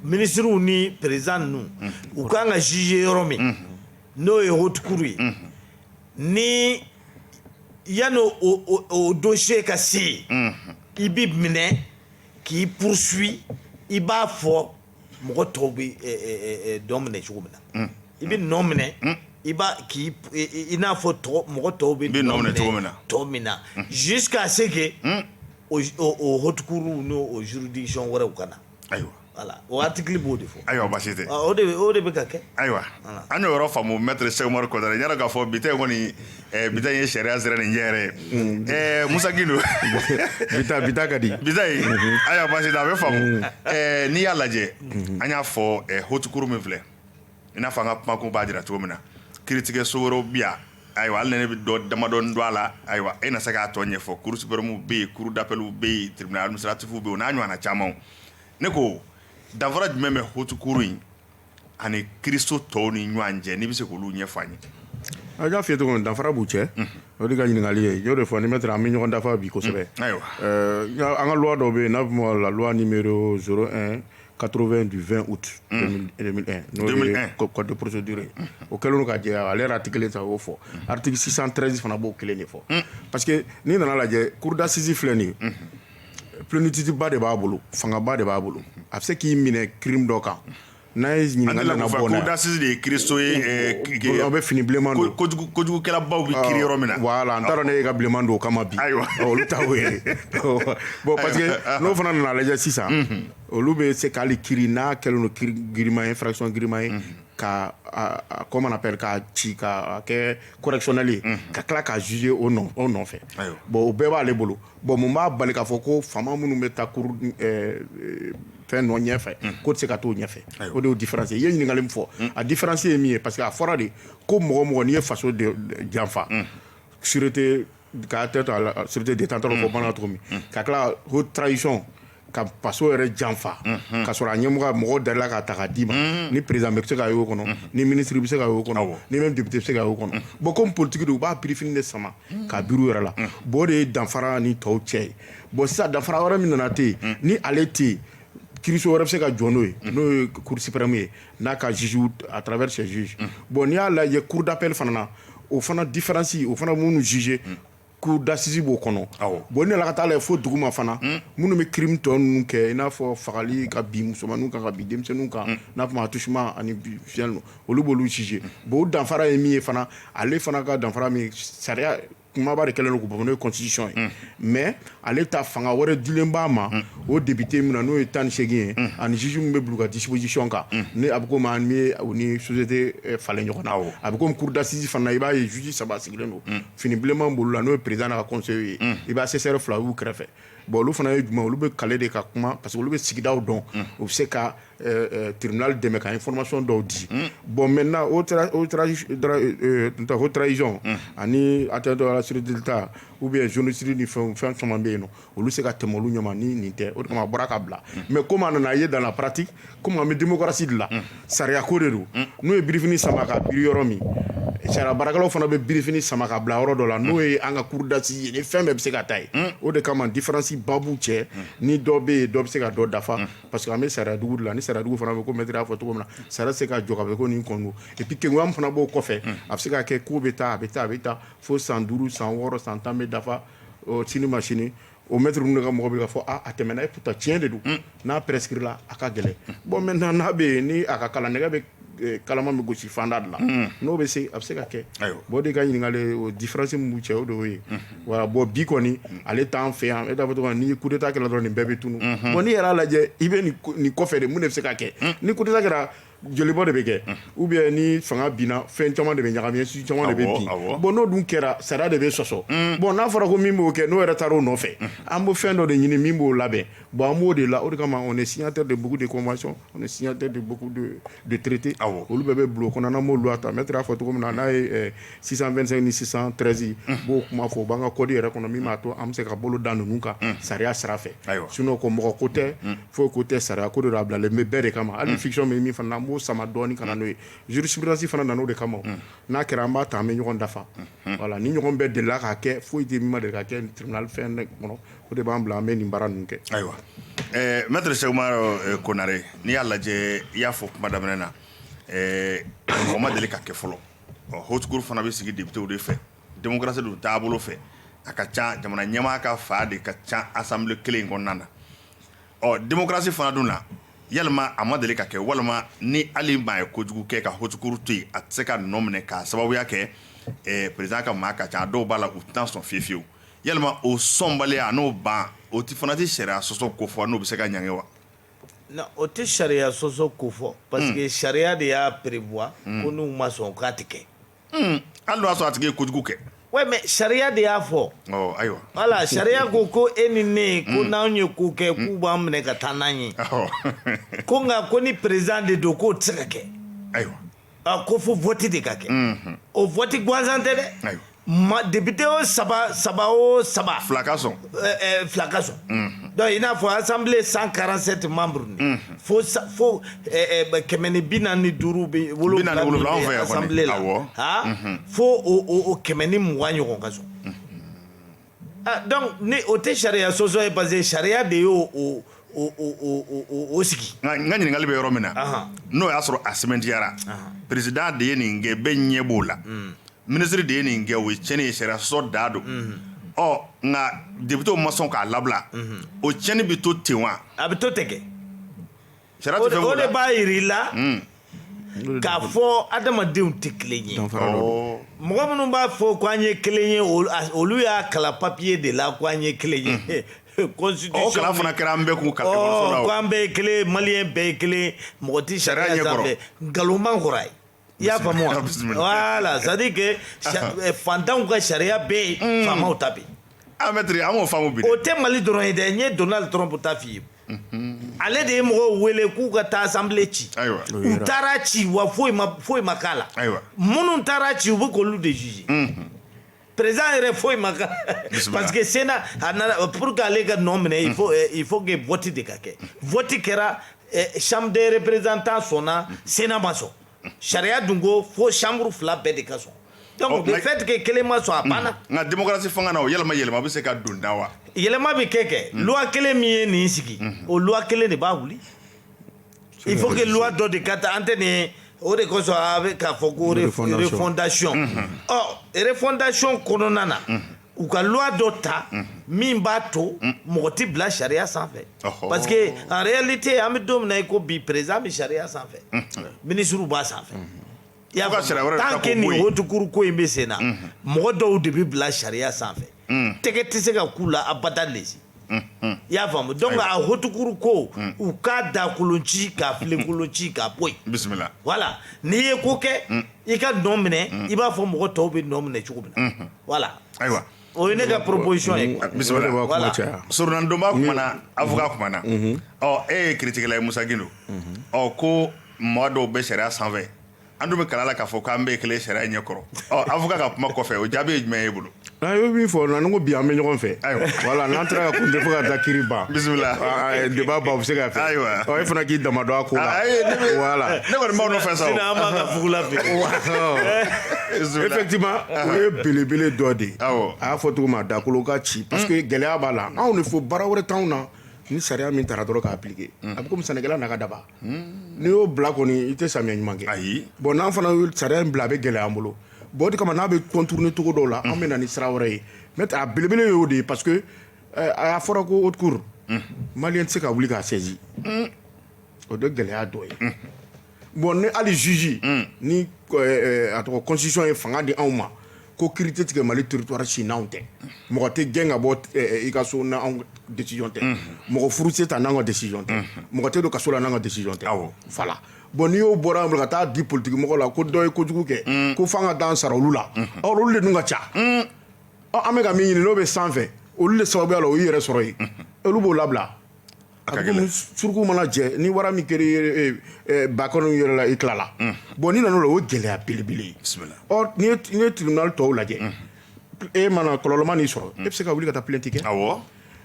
[SPEAKER 3] minisiriw ni président ninnu u kan ka juger yɔrɔ min n'o ye haute cour ye ni yanni o dossier ka se yen i bɛ minɛ k'i poursuit i b'a fɔ mɔgɔ tɔw bɛ dɔ minɛ cogo min na i bɛ nɔ minɛ i b'a k'i n'a fɔ mɔgɔ tɔw bɛ minɛ cogo min na jusqu'à ce que o haute cour n'o juridiction wɛrɛw ka na Ayiwa
[SPEAKER 1] voilà o article
[SPEAKER 3] b'o de fɔ ayiwa baasi
[SPEAKER 1] tɛ o de bɛ ka
[SPEAKER 3] kɛ ayiwa an
[SPEAKER 1] y'o yɔrɔ faamu maître Cheick Oumar Konaré n y'a dɔn k'a fɔ bi ta in kɔni bi ta in ye sariya sira nin ɲɛ yɛrɛ ye Musa Gindo
[SPEAKER 2] bi ta ka di bi ta in
[SPEAKER 1] ayiwa baasi tɛ a bɛ faamu n'i y'a lajɛ an y'a fɔ haute cour min filɛ i n'a fɔ an ka kumakun b'a jira cogo min na kiiritigɛso wɛrɛw bɛ yan ayiwa hali ni ne bɛ dɔ damadɔ dɔn a la ayiwa e na se k'a tɔ ɲɛfɔ cour suprême bɛ yen cour d'appel bɛ yen tribunal administratif bɛ yen o n'a ɲɔgɔnna caman ne ko danfara jumɛn bɛ haute cour in ani kiiriso tɔw ni ɲɔgɔn cɛ n'i bɛ se k'olu ɲɛfɔ an ye a y'a
[SPEAKER 2] f'i ye cogo min danfara b'u cɛ o de ka ɲininkali ye n y'o de fɔ ni maître an bɛ ɲɔgɔn dafa bi kosɛbɛ ayiwa
[SPEAKER 1] an ka loi dɔ bɛ
[SPEAKER 2] yen n'a bɛ fɔ la loi numéro 80 du 20 août 2001 n'o ye 2001. co- code de procédure ye o kɛlen don ka jɛ ale yɛrɛ article kelen tɛ o fɔ article 613 fana b'o kelen de fɔ parce que n'i nana lajɛ cour d'assises filɛ nin ye plénitude ba de b'a bolo fangaba de b'a bolo a bɛ se k'i minɛ crime dɔ kan n'a ye an ɲininkali delila nana k'o fɔ bɔ n'a ye. cour d'assises de ye kiiriso
[SPEAKER 1] ye eh, ki- ki- aw bɛ fini
[SPEAKER 2] bilenman ko- don kojugu- kojugukɛlabaw bɛ
[SPEAKER 1] kiiri yɔrɔ min na voilà n t'a dɔn n'e y'i ka
[SPEAKER 2] bilenman don o kama bi Ayiwa. Ɔ, olu ta o ye bon parce que n'o fana nana lajɛ sisan olu bɛ se k'ale kiiri n'a kɛlen don kiiri giriman ye infraction giriman ye ka comment on appelle ka ci ka kɛ correctionnel ye ka tila ka juger o nɔfɛ bon o bɛɛ b'ale bolo bon mun b'a bali k'a fɔ ko faama minnu bɛ taa cour fɛn nɔ ɲɛfɛ k'o tɛ se ka t'o ɲɛfɛ o de y'o différence ye i ye ɲininkali min fɔ a différence ye min ye parce que a fɔra de ko mɔgɔ mɔgɔ n'i ye faso janfa sûreté ka atteinte à la sûreté d'État tɔɔrɔ ko bamanan cogo min ka tila haute trahison ka faso yɛrɛ janfa ka sɔrɔ a ɲɛmɔgɔ mɔgɔw dar'i la k'a ta k'a d'i ma ni président bɛ se ka y'o kɔnɔ ni ministre bɛ se ka y'o kɔnɔ ni même député bɛ se ka y'o kɔnɔ bon comme politique don u b'a birifini de sama k'a biri u yɛrɛ la bon o de ye danfara ni tɔw cɛ ye bon sisan danfara wɛrɛ min nana tɛ yen ni ale tɛ yen kiiriso wɛrɛ bɛ se ka jɔ n'o ye n'o ye cour suprême ye n'a ka juge à travers ses juges mm. bon n'i y'a lajɛ cour d'appel fana na o fana différence o fana minnu juger mm. cour d'assises b'o kɔnɔ bon ne la ka taa lajɛ fo duguma fana mm. minnu bɛ crime tɔ ninnu kɛ i n'a fɔ fagali ka bin musomaninw kan ka bin denmisɛnninw kan mm. n'a fɔ ma attouchement ani viol ninnu olu b'olu juger mm. bon o danfara ye min ye fana ale fana ka danfara min sariya kumaba de kɛlen don k'o bɔ n'o ye constitution ye mais ale ta fanga wɛrɛ dilen b'a ma o député min na n'o ye tan ni seegin ye ani juge min bɛ bila u ka disposition kan ni a bɛ komi an bɛ u ni société eh, falen ɲɔgɔn na a bɛ komi cour d'assises fana i b'a ye juge saba sigilen don fini bilenman b'olu la n'o ye président n'a ka conseillerw ye i bɛ assesseur fila y'u kɛrɛfɛ bon olu fana ye jumɛn olu bɛ kali de ka kuma parce que olu bɛ sigidaw dɔn u bɛ se ka tiribinali dɛmɛ kan fɔlɔmasɔn dɔw di bɔn mɛ n o taararayiz ani a tɛ dɔw siridta u bɛ zsiriri ni fɛn fɛn caman bɛ yen olu se ka tɛmɛ olu ɲama ni nin tɛ o tuma bɔra ka bila mɛ ko nana a ye dan parati ko bɛ denmusosi dilan sariya ko de don n'u ye birif sama ka bi yɔrɔ min sariya barika fana bɛ birif sama ka bila yɔrɔ dɔ la n'o ye an ka kurudasi ye ni fɛn bɛɛ bɛ se ka ta yen o de kama difaransi baa cɛ ni dɔ bɛ yen dɔ bɛ se ka dɔ dafa parce que an bɛ sariya dugu de la ni sariya dugu fana bɛ comme maître y'a fɔ cogo min na sariya tɛ se ka jɔ ka bɛ ko nin kɔnɔ et puis kengoya min fana b'o kɔfɛ a bɛ se ka kɛ ko bɛ taa a bɛ taa a bɛ taa fo san duuru san wɔɔrɔ san tan bɛ dafa ɔ sini ma sini o maître ninnu de ka mɔgɔ bɛ ka fɔ a a tɛmɛna et pourtant tiɲɛ de don n'a prescrit la a ka gɛlɛn bon maintenant n'a bɛ yen ni a ka kalan nɛgɛ bɛ kalama bɛ gosi fanda de la n'o bɛ se a bɛ se ka kɛ bon de ka ɲininkali différence min b'u cɛ o de y'o ye voilà bon bi kɔni ale t'an fɛ yan étant donné ni coup d'État kɛra dɔrɔn nin bɛɛ bɛ tunun bon n'i yɛrɛ y'a lajɛ i bɛ nin kɔfɛ de mun de bɛ se ka kɛ ni coup d'État kɛra jolibɔ de bɛ kɛ ou bien ni fanga binna fɛn caman de bɛ ɲagami institution caman de bɛ bin bon n'o dun kɛra sariya de bɛ sɔsɔ bon n'a fɔra ko min b'o kɛ n'o yɛrɛ taara o nɔfɛ an bɛ fɛn dɔ de ɲini min b'o labɛn Bon an b'o de la o de kama on est signataire de beaucoup de conventions on est signataire de beaucoup de de traités awɔ olu bɛɛ bɛ bulon kɔnɔ n'an b'olu lata maître y'a fɔ cogo min na n'a ye ɛ 625 ni 613 ye n b'o kuma fɔ o b'an ka code yɛrɛ kɔnɔ min b'a to an bɛ se ka bolo da ninnu kan sariya sira fɛ ayiwa sinon ko mɔgɔ ko tɛ foyi ko tɛ sariya ko de don a bilalen bɛ bɛɛ de kama hali fiction bɛ min fana na an b'o sama dɔɔni ka na n'o ye jurisprudence fana nana o de kama o n'a kɛra an b'a ta an bɛ ɲɔgɔn dafa voilà nin ɲɔgɔn bɛɛ delila ka kɛ foyi tɛ min ma deli ka kɛ tribunal fɛn kɔnɔ o de b'an bila an bɛ nin baara ninnu kɛ ayiwa
[SPEAKER 1] ɛɛ maître Cheick Oumar eh, Konaré n'i y'a lajɛ i y'a fɔ kuma daminɛ na ɛɛ mɔgɔ ma deli ka kɛ fɔlɔ ɔ haute cour fana bɛ sigi députéw de fɛ démocratie don taabolo fɛ a ka ca jamana ɲɛmaa ka fa de ka ca assemblée kelen in kɔnɔna na ɔ démocratie fana dun na yalima a ma deli ka kɛ walima ni hali maa ye kojugu kɛ ka haute cour to yen a tɛ se ka nɔ minɛ k'a sababuya kɛ eh, président ka maa ka ca a dɔw b'a la u tɛna sɔn fiyefiyewu yalima o sɔnbaliya n'o ban o tɛ fana tɛ sariya sɔsɔ ko fɔ n'o bɛ se ka ɲangi wa non
[SPEAKER 3] o tɛ sariya sɔsɔ ko fɔ parce que sariya de y'a prévoir ko n'u ma sɔn k'a tɛ kɛ hali n'o
[SPEAKER 1] y'a sɔrɔ a tigi ye kojugu kɛ Oui, mais
[SPEAKER 3] sariya de y'a fɔ ɔ ayiwa
[SPEAKER 1] voilà sariya
[SPEAKER 3] ko ko e ni ne ko n'anw ye ko kɛ k'u b'an minɛ ka taa n'an ye ɔ ko nka ko ni président de don k'o tɛ se ka kɛ ayiwa a ko fo vote de ka kɛ o vote gansan tɛ dɛ Ayiwa. ma député
[SPEAKER 1] o
[SPEAKER 3] saba saba o saba fila ka sɔn euh,
[SPEAKER 1] euh, fila ka sɔn
[SPEAKER 3] donc i n'a fɔ assemblée 147 membres ni fo sa- fo euh, euh, kɛmɛ ni bi naani ni duuru bɛ Bi naani wolonwula min wolonwula, anw fɛ bɛ yan kɔni. assemblée la Awɔ. ha fo o o- o kɛmɛ ni mugan ɲɔgɔn ka sɔn Donc ni o tɛ sariya sɔsɔ ye parce que sariya de y' o sigi nka n ka ɲininkali bɛ yɔrɔ
[SPEAKER 1] min na n'o y'a sɔrɔ a sɛmɛntiyara président de ye nin kɛ bɛɛ ɲɛ b'o la ministre de ye nin kɛ o ye tiɲɛni ye sariya sɔsɔ da don ɔ nka députéw ma sɔn k'a labila o tiɲɛni bɛ to ten wa a bɛ to ten kɛ o de b'a jira i
[SPEAKER 3] la k'a fɔ adamadenw tɛ kelen ye mɔgɔ minnu b'a fɔ ko an ye kelen ye olu y'a kalan papier de la ko an ye kelen ye constitution kalan fana kɛra an
[SPEAKER 1] bɛɛ kun ekɔliso la ko an bɛɛ ye kelen
[SPEAKER 3] maliyɛn bɛɛ ye kelen mɔgɔ tɛ sariya sanfɛ nkalonman kɔrɔ ye I y'a faamu wa? Bisimila. Voilà, c'est à dire que sa- eh, fantanw ka sariya bɛ yen, faamaw ta bɛ yen. Ah, maître, an m'o faamu bi dɛ.
[SPEAKER 1] O tɛ Mali dɔrɔn ye dɛ,
[SPEAKER 3] n ye Donald Trump ta f'i ye. Ale de ye mɔgɔw wele k'u ka taa assemblée ci. Ayiwa. U taara ci wa foyi ma foyi ma k'a la. Ayiwa. Minnu taara ci u bɛ k'olu de juger. président yɛrɛ foyi ma k'a parce que Sénat a nana pour que ale ka nɔ minɛ il faut eh, il faut que vote de ka kɛ vote kɛra eh, chambre des représentants sɔnna Sénat ma sɔn sariya dun ko fo chambre fila bɛɛ de ka sɔn donc oh, le fait que kelen ma sɔn a banna nka démocratie fanga
[SPEAKER 1] na o yɛlɛma yɛlɛma bɛ se ka don da wa yɛlɛma bɛ kɛ kɛ
[SPEAKER 3] loi kelen min ye nin sigi o loi kelen de b'a wuli Il faut que loi dɔ de ka ta an tɛ nin o de kosɔn a bɛ k'a fɔ ko refondation ɔ refondation kɔnɔna na u ka loi dɔ ta min b'a to mɔgɔ tɛ bila sariya sanfɛ parce que en réalité an bɛ don min na i ko bi président bɛ sariya sanfɛ ministre b'a sanfɛ. I y'a Fo ka sariya wɛrɛ de ta k'o tant que bɔ nin yen. haute cour ko in bɛ senna mɔgɔ dɔw de bɛ bila sariya sanfɛ tɛgɛ tɛ se ka k'u la abada le i y'a faamu donc a haute cour ko u k'a da kolon ci k'a filen kolon ci k'a bɔ yen bisimila voilà
[SPEAKER 1] n'i
[SPEAKER 3] ye ko kɛ i ka nɔ minɛ i b'a fɔ mɔgɔ tɔw bɛ nɔ minɛ cogo min na voilà ayiwa o
[SPEAKER 1] ye ne
[SPEAKER 3] ka proposition ye quoi. bisimila O de b'a kuma Voilà.
[SPEAKER 1] caya. surunalidonba kumana avocat kumana ɔ e ye kiritigɛla ye Musa Gindo ɔ ko Mɔgɔ dɔw bɛ sariya sanfɛ an dun bɛ kalan la k'a fɔ k'an bɛɛ kelen sariya ɲɛ kɔrɔ avocat ka kuma kɔfɛ o jaabi ye jumɛn ye e bolo i ye min
[SPEAKER 2] fɔ nin ko bi an bɛ ɲɔgɔn fɛ ayiwa voilà n'an taara kun tɛ fo ka taa kiri ban bisimila
[SPEAKER 1] débat
[SPEAKER 2] bɛ se ka fɛ ayiwa e fana k'i dama
[SPEAKER 1] dɔn
[SPEAKER 2] a ko la voilà ne kɔni b'aw fɛ
[SPEAKER 1] sa
[SPEAKER 3] b'ugula effectivement
[SPEAKER 2] o ye belebele dɔ de ye a y'a fɔ cogo min da kolon ka ci parce que gɛlɛya b'a la anw de fo baara wɛrɛ t'anw na ni sariya min taara dɔrɔn k'a appliquer a bɛ komi sɛnɛkɛla n'a ka daba Hmm. N'i y'o bila kɔni i tɛ samiya ɲuman kɛ. Ayi. Bon n'an fana ye
[SPEAKER 1] sariya
[SPEAKER 2] in bila a bɛ gɛlɛya an bolo. Bon o de kama n'a bɛ contourner cogo dɔw la. Unhun. An bɛ na ni sira wɛrɛ ye. N'o tɛ a belebele ye o de ye parce que ɛɛ a fɔra ko haute cour . Unhun. Maliyɛn tɛ se ka wuli k'a saisi . Un! O de gɛlɛya dɔ ye. Unhun. Bon ni hali juge . Un! Ni ɛɛ a tɔgɔ constitution ye fanga di anw ma. ko kiri tɛ tigɛ mali territoire si n'anw tɛ mɔgɔ tɛ gɛn ka bɔ i ka so n'anw décision tɛ mɔgɔ furu tɛ sa n'anw ka décision tɛ mɔgɔ tɛ don kaso la n'anw ka décision tɛ voilà bon n'i y'o bɔra an ka taa di politique mɔgɔ la ko dɔ ye kojugu kɛ ko f'an ka taa an sara olu la or olu de dun ka ca an bɛ ka min ɲini n'o bɛ sanfɛ olu de sababuya la o y'i yɛrɛ sɔrɔ yen olu b'o labila A ka gɛlɛn. suruku mana jɛ ni wara min kɛra i ye, e, e, ba kɔnɔ yɛrɛ la i tilala bon n'i nana o la o ye gɛlɛya belebele ye Bisimila. ɔ n'i ye n'i ye tribunal tɔw lajɛ e mana kɔlɔlɔ ma n'i sɔrɔ e bɛ se ka wuli ka taa plainte kɛ Awɔ.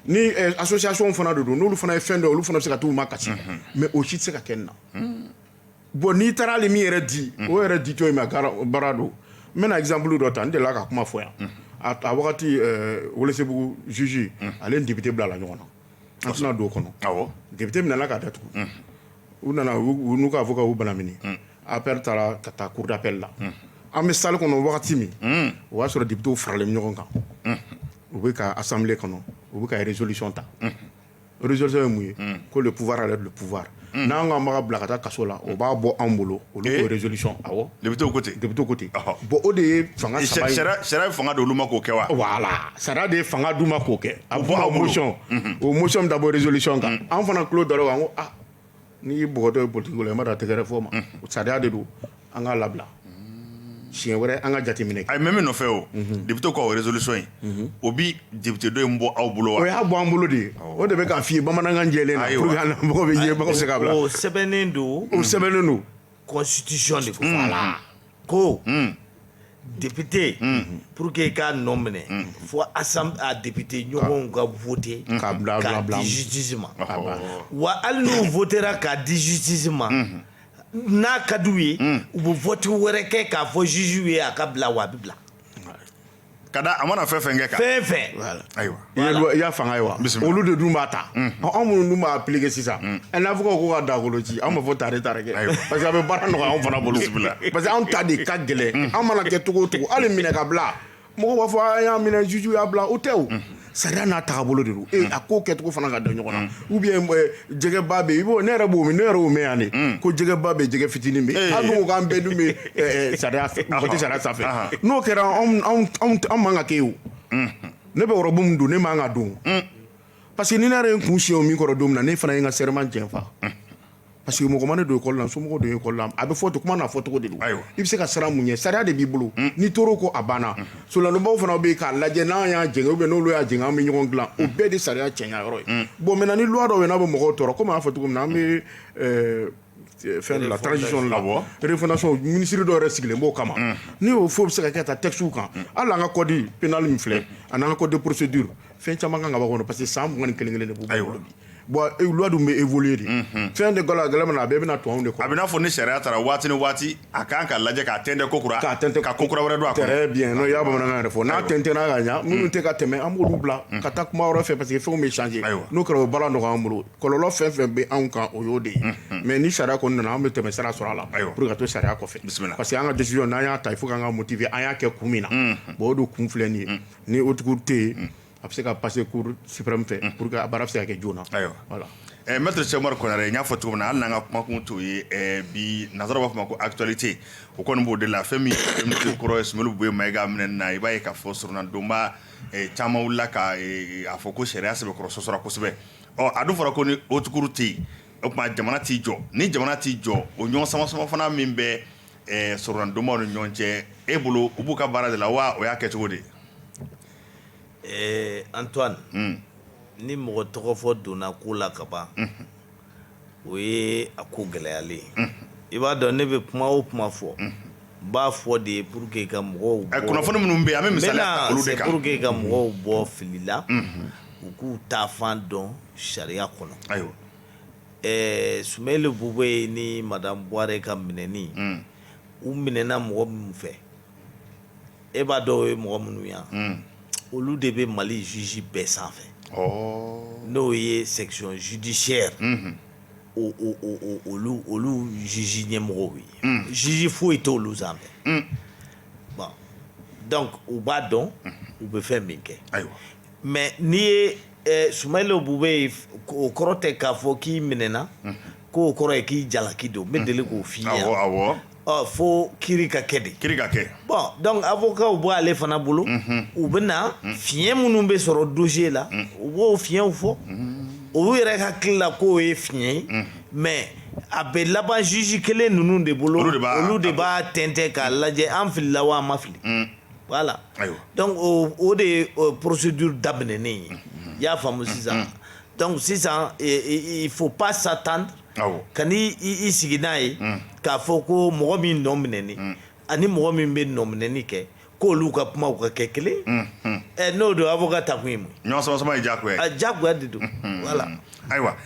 [SPEAKER 2] ni eh, association fana de don n'olu fana ye fɛn dɔ ye olu fana bɛ se ka t'u makasi mais o si tɛ se ka kɛ nin na bon n'i taara hali min yɛrɛ di o yɛrɛ di cogo in ma gara- baara don n bɛna exemple dɔ ta n delila ka kuma fɔ yan a a wagati eh, Welesebugu juge ale ni député bilala ɲɔgɔn na an tɛna don o kɔnɔ député minɛna k'a datugu u nana u n'u ka avocat y'u banamini appel taara ka taa cour d'appel la an bɛ salle kɔnɔ wagati min o y'a sɔrɔ députés faralen bɛ ɲɔgɔn kan u bɛ ka assemblée kɔnɔ u bɛ ka résolution ta résolution ye mun ye ko le pouvoir enlève le pouvoir unhun, n'an ko an b'a ka bila ka taa kaso la, o b'a bɔ anw bolo, olu ko résolution awɔ, députés ko ten, députés ko
[SPEAKER 1] ten, ɔhɔ, bon o
[SPEAKER 2] de ye fanga saba ye, sariya sariya ye fanga di olu ma k'o
[SPEAKER 1] kɛ wa? Voilà sariya de
[SPEAKER 2] ye fanga d'u ma k'o kɛ, a bɛ fɔ o ma ko motion, unhun, o motion bɛ taa bɔ résolution kan, unhun, anw fana tulo dara o kan ko aa n'i y'i bɔgɔtɔ ye politique ko la i ma dɔn a tɛgɛrɛ fɔ o ma, unhun, sariya de don An k'a labila siɲɛ wɛrɛ an ka jateminɛ kɛ a ye mɛn min nɔfɛ
[SPEAKER 1] o députés ka o résolution in o bɛ député dɔ in bɔ aw bolo wa o y'a bɔ an bolo de
[SPEAKER 2] o de bɛ k'a fɔ i ye bamanankan jɛlen na pour que a bɛ se ka bila o sɛbɛnnen don
[SPEAKER 3] o sɛbɛnnen don constitution de ko voilà ko député pour que i k'a nɔ minɛ fo assemblée a député ɲɔgɔnw ka voter k'a di justice ma wa hali n'u votéra k'a di justice ma n'a ka d'u ye hmm. u bɛ vote wɛrɛ kɛ k'a fɔ juge ye a ka bila wa a bɛ
[SPEAKER 1] bila ka da a mana fɛn fɛn kɛ kan fɛn fɛn
[SPEAKER 3] ayiwa i y'a
[SPEAKER 1] fanga ye wa
[SPEAKER 2] olu de dun b'a ta hmm. anw minnu dun b'a appliquer sisan hmm. ɛ n'a fɔ ko ka dagolo ci anw b'a fɔ tare tare kɛ parce que a bɛ baara nɔgɔya anw fana bolo parce que anw ta de ka gɛlɛn anw mana kɛ cogo o cogo hali minɛ ka bila Mɔgɔ b'a fɔ a y'a minɛ juge y'a bila o tɛ o unhun sariya n'a tagabolo de don ee a ko kɛcogo fana ka da ɲɔgɔn na ou bien m ɛɛ jɛgɛba bɛ yen i b'o ne yɛrɛ b'o mɛn ne yɛrɛ y'o mɛ yan de unnn ko jɛgɛba bɛ yen jɛgɛ fitinin bɛ yen ee an dun ko k'an bɛɛ dun bɛ ɛɛ ɛɛ sariya fɛ mɔgɔ tɛ sariya sanfɛ anhan n'o kɛra anw anw t anw t anw man ka kɛ yen o unhun ne bɛ robe min don ne man ka don o unnn parce que ni ne yɛrɛ ye n kun siɲɛ o min kɔrɔ don min na ne fana ye n ka serment janfa unhun Parce que mɔgɔ ma ne don école la somɔgɔw don école la a bɛ fɔ to kuma n'a fɔcogo de ayiwa i bɛ se ka siran mun ɲɛ sariya de b'i bolo n'i tor'o kɔ a banna solanlɔbaw fana bɛ yen k'a lajɛ n'an y'a jɛngɛ ou bien n'olu y'a jɛngɛ an bɛ ɲɔgɔn dilan o bɛɛ de sariya cɛɲa yɔrɔ ye bon maintenant ni loi dɔw bɛ n'a bɛ mɔgɔw tɔɔrɔ komi an y'a fɔ cogo min na an bɛ fɛn la transition la refondation ministre dɔw yɛrɛ sigilen b'o kama ni réforme bɛ se ka kɛ ta textes kan hali an ka code pénal min filɛ ani an ka code de procédure fɛn caman kan ka bɔ kɔnɔ parce que san mugan ni kelen kelen de b'u bolo bi bon e, loi dun bɛ évoluer de mhm. fɛn de gala gɛlɛn min na a bɛɛ bɛna tubabu de kɔnɔ a bɛ n'a fɔ ni sariya taara
[SPEAKER 1] waati ni waati a kan ka lajɛ k'a tɛntɛn ko kura k'a tɛntɛn ka ko kura wɛrɛ don a kɔnɔ très bien n'o y'a bamanankan
[SPEAKER 2] yɛrɛ fɔ n'a tɛntɛnna ka ɲa minnu tɛ ka tɛmɛ an b'olu bila mhm. ka taa kuma wɛrɛ fɛ parce que fɛnw bɛ changer n'o kɛra o baara nɔgɔya an bolo kɔlɔlɔ fɛn fɛn bɛ anw kan o y'o de ye mhm. mais ni sariya kɔni nana an bɛ tɛmɛsira sɔrɔ a la pour ka to sariya kɔfɛ parce que an ka décision n'an y'a ta il faut k'an k'a motiver an y'a kɛ kun min na bon o de kun filɛ nin ye ni haute cour tɛ yen a bɛ se ka passer cour suprême fɛ pour que a baara bɛ se ka kɛ joona voilà ɛ maître Cheick
[SPEAKER 1] Oumar Konaré n y'a fɔ cogo min na hali n'an ka kumakun t'o ye bi nansaraw b'a fɔ ma ko actualité o kɔni b'o de la fɛn min kɔrɔ ye Soumeylou Boubèye Maïga minɛni na i b'a ye k'a fɔ soronadonba caman wulila ka a fɔ ko sariya sɛbɛkɔrɔ sɔsɔra kosɛbɛ ɔ a dun fɔra ko ni haute cour tɛ yen o tuma jamana t'i jɔ ni jamana t'i jɔ o ɲɔgɔn samasama fana min bɛ Ɛɛ soronadonbaw ni ɲɔgɔn cɛ e bolo u b'u ka baara de la wa o y'a kɛ cogo de
[SPEAKER 3] ɛɛ Antoine ni mɔgɔ tɔgɔ fɔ donna ko la kaban o ye a ko gɛlɛyalen ye i b'a dɔn ne bɛ kuma o kuma fɔ n b'a fɔ de ye pour que ka mɔgɔw kunnafoni minnu bɛ an
[SPEAKER 1] bɛ pour que ka mɔgɔw bɔ
[SPEAKER 3] fili la u k'u taa fan dɔn sariya kɔnɔ ayiwa ɛɛ Soumeylou Boubèye ni madame Bouaré ka minɛni, un, u minɛna mɔgɔ minnu fɛ, e b'a dɔn o ye mɔgɔ minnu ye wa? Un, olu de bɛ Mali juge bɛɛ sanfɛ, ɔɔ, n'o ye section judiciaire unhun, o o o olu olu juge ɲɛmɔgɔw ye, un, juge foyi tɛ olu sanfɛ, un, bon donc u b'a dɔn u bɛ fɛn min kɛ, ayiwa, mais n'i ye Ɛɛ Soumeylou Boubèye o kɔrɔ tɛ k'a fɔ k'i minɛna k'o kɔrɔ ye k'i jalaki don n bɛ deli k'o f'i ye fo kiri ka kɛ de kiri ka
[SPEAKER 1] kɛ bon donc avocatw
[SPEAKER 3] bɛ ale fana bolo u bɛ na fiɲɛ minnu bɛ sɔrɔ dossier la u b'o fiɲɛw fɔ olu yɛrɛ hakili la k'o ye fiɲɛ ye mais a bɛ laban juge kelen ninnu de bolo olu de b'a tɛntɛn k'a lajɛ an filila wa an ma fili voilà donc o de ye procédure daminɛnen ye i y'a faamu sisan donc sisan faut pas s'attendre ka i sigi n'a ye k'a fɔ ko mɔgɔ min nɔ minɛnen ani mɔgɔ min bɛ nɔminɛni kɛ k'olu ka kuma ka kɛ kelen ye n'o don avocat ta kun ye mun
[SPEAKER 1] ye diyagoya de don
[SPEAKER 3] voilà
[SPEAKER 1] Ayiwa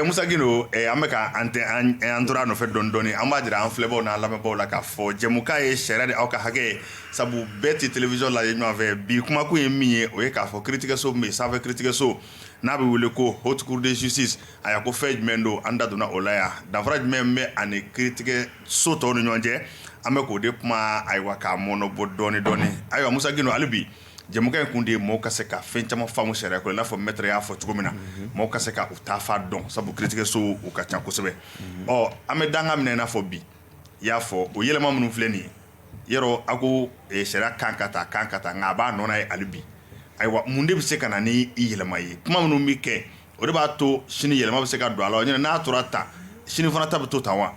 [SPEAKER 1] Musa Gindo an bɛka an tɛ an tora a nɔfɛ dɔɔni dɔɔni an b'a jira an filɛbaw n'an lamɛnbaw la k'a fɔ jɛmukan ye sariya de aw ka hakɛ sabu bɛɛ tɛ télévision lajɛ ɲɔgɔnfɛ bi kumakun ye min ye o ye k'a fɔ kiritigɛso min bɛ sanfɛ kiritigɛso n'a bɛ wele ko haute cour de justice a y'a ko fɛn jumɛn don an da donna o la yan danfara jumɛn bɛ ani kiritigɛso tɔw ni ɲɔgɔn cɛ an bɛ k'o de kuma ayiwa k'a mɔnɔbɔ dɔɔnin dɔɔnin ayiwa musa hali bi jɛmukan in kun de ye mɔgɔ ka se ka fɛn caman faamu sariya ko la n'a fɔ maître y'a fɔ cogo min na mɔgɔ ka se ka u taafan dɔn sabu kiritigɛso u ka ca kosɛbɛ ɔ an bɛ dan minɛ n'a fɔ bi i y'a fɔ o yɛlɛma minnu filɛ nin ye yɔrɔ a ko sariya kan ka taa kan ka taa nka a b'a nɔ na yen hali bi ayiwa mun de bɛ se ka na ni i yɛlɛma ye kuma minnu bɛ kɛ o de b'a to sini yɛlɛma bɛ se ka don a la n'a tora tan sini fana ta bɛ to tan wa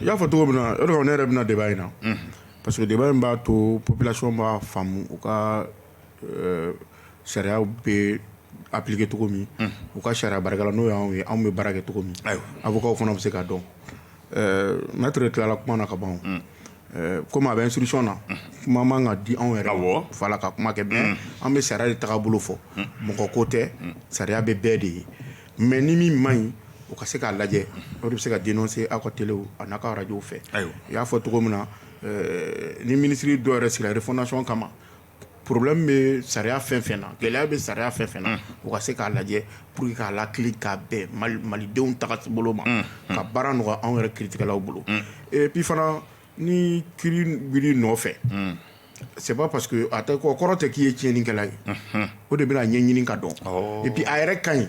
[SPEAKER 1] i y'a fɔ cogo
[SPEAKER 2] min na ne yɛrɛ bɛna na débat in na Parce que débat in b'a to population b'a faamu u ka sariya bɛ appliquer cogo min u ka sariya baarakɛla n'o y'an ye anw bɛ baara kɛ cogo min avocatw fana bɛ se ka dɔn maître tilala kuma na ka ban kɔmi a bɛ instruction na kuma man ka di anw yɛrɛ fa la ka kuma kɛ an bɛ sariya de tagabolo fɔ mɔgɔ ko tɛ sariya bɛ bɛɛ de ye mais ni min man ɲi o ka se k'a lajɛ o de bɛ se ka dénoncer aw ka téléw a n'a ka arajow fɛ i y'a fɔ cogo min na ni minisiri dɔ yɛrɛ sigira refondation kama problème bɛ sariya fɛn fɛn na gɛlɛya bɛ sariya fɛn fɛn na o ka se k'a lajɛ pour k'a latilen ka bɛn malidenw tagasibolo ma ka baara nɔgɔya anw yɛrɛ kiiritigɛlaw bolo et puis fana ni kiiri wili nɔfɛ c'est pas parce que a tɛ kɔrɔ tɛ k'i ye tiɲɛnikɛla ye o de bɛna ɲɛɲini ka dɔn et puis a yɛrɛ ka ɲi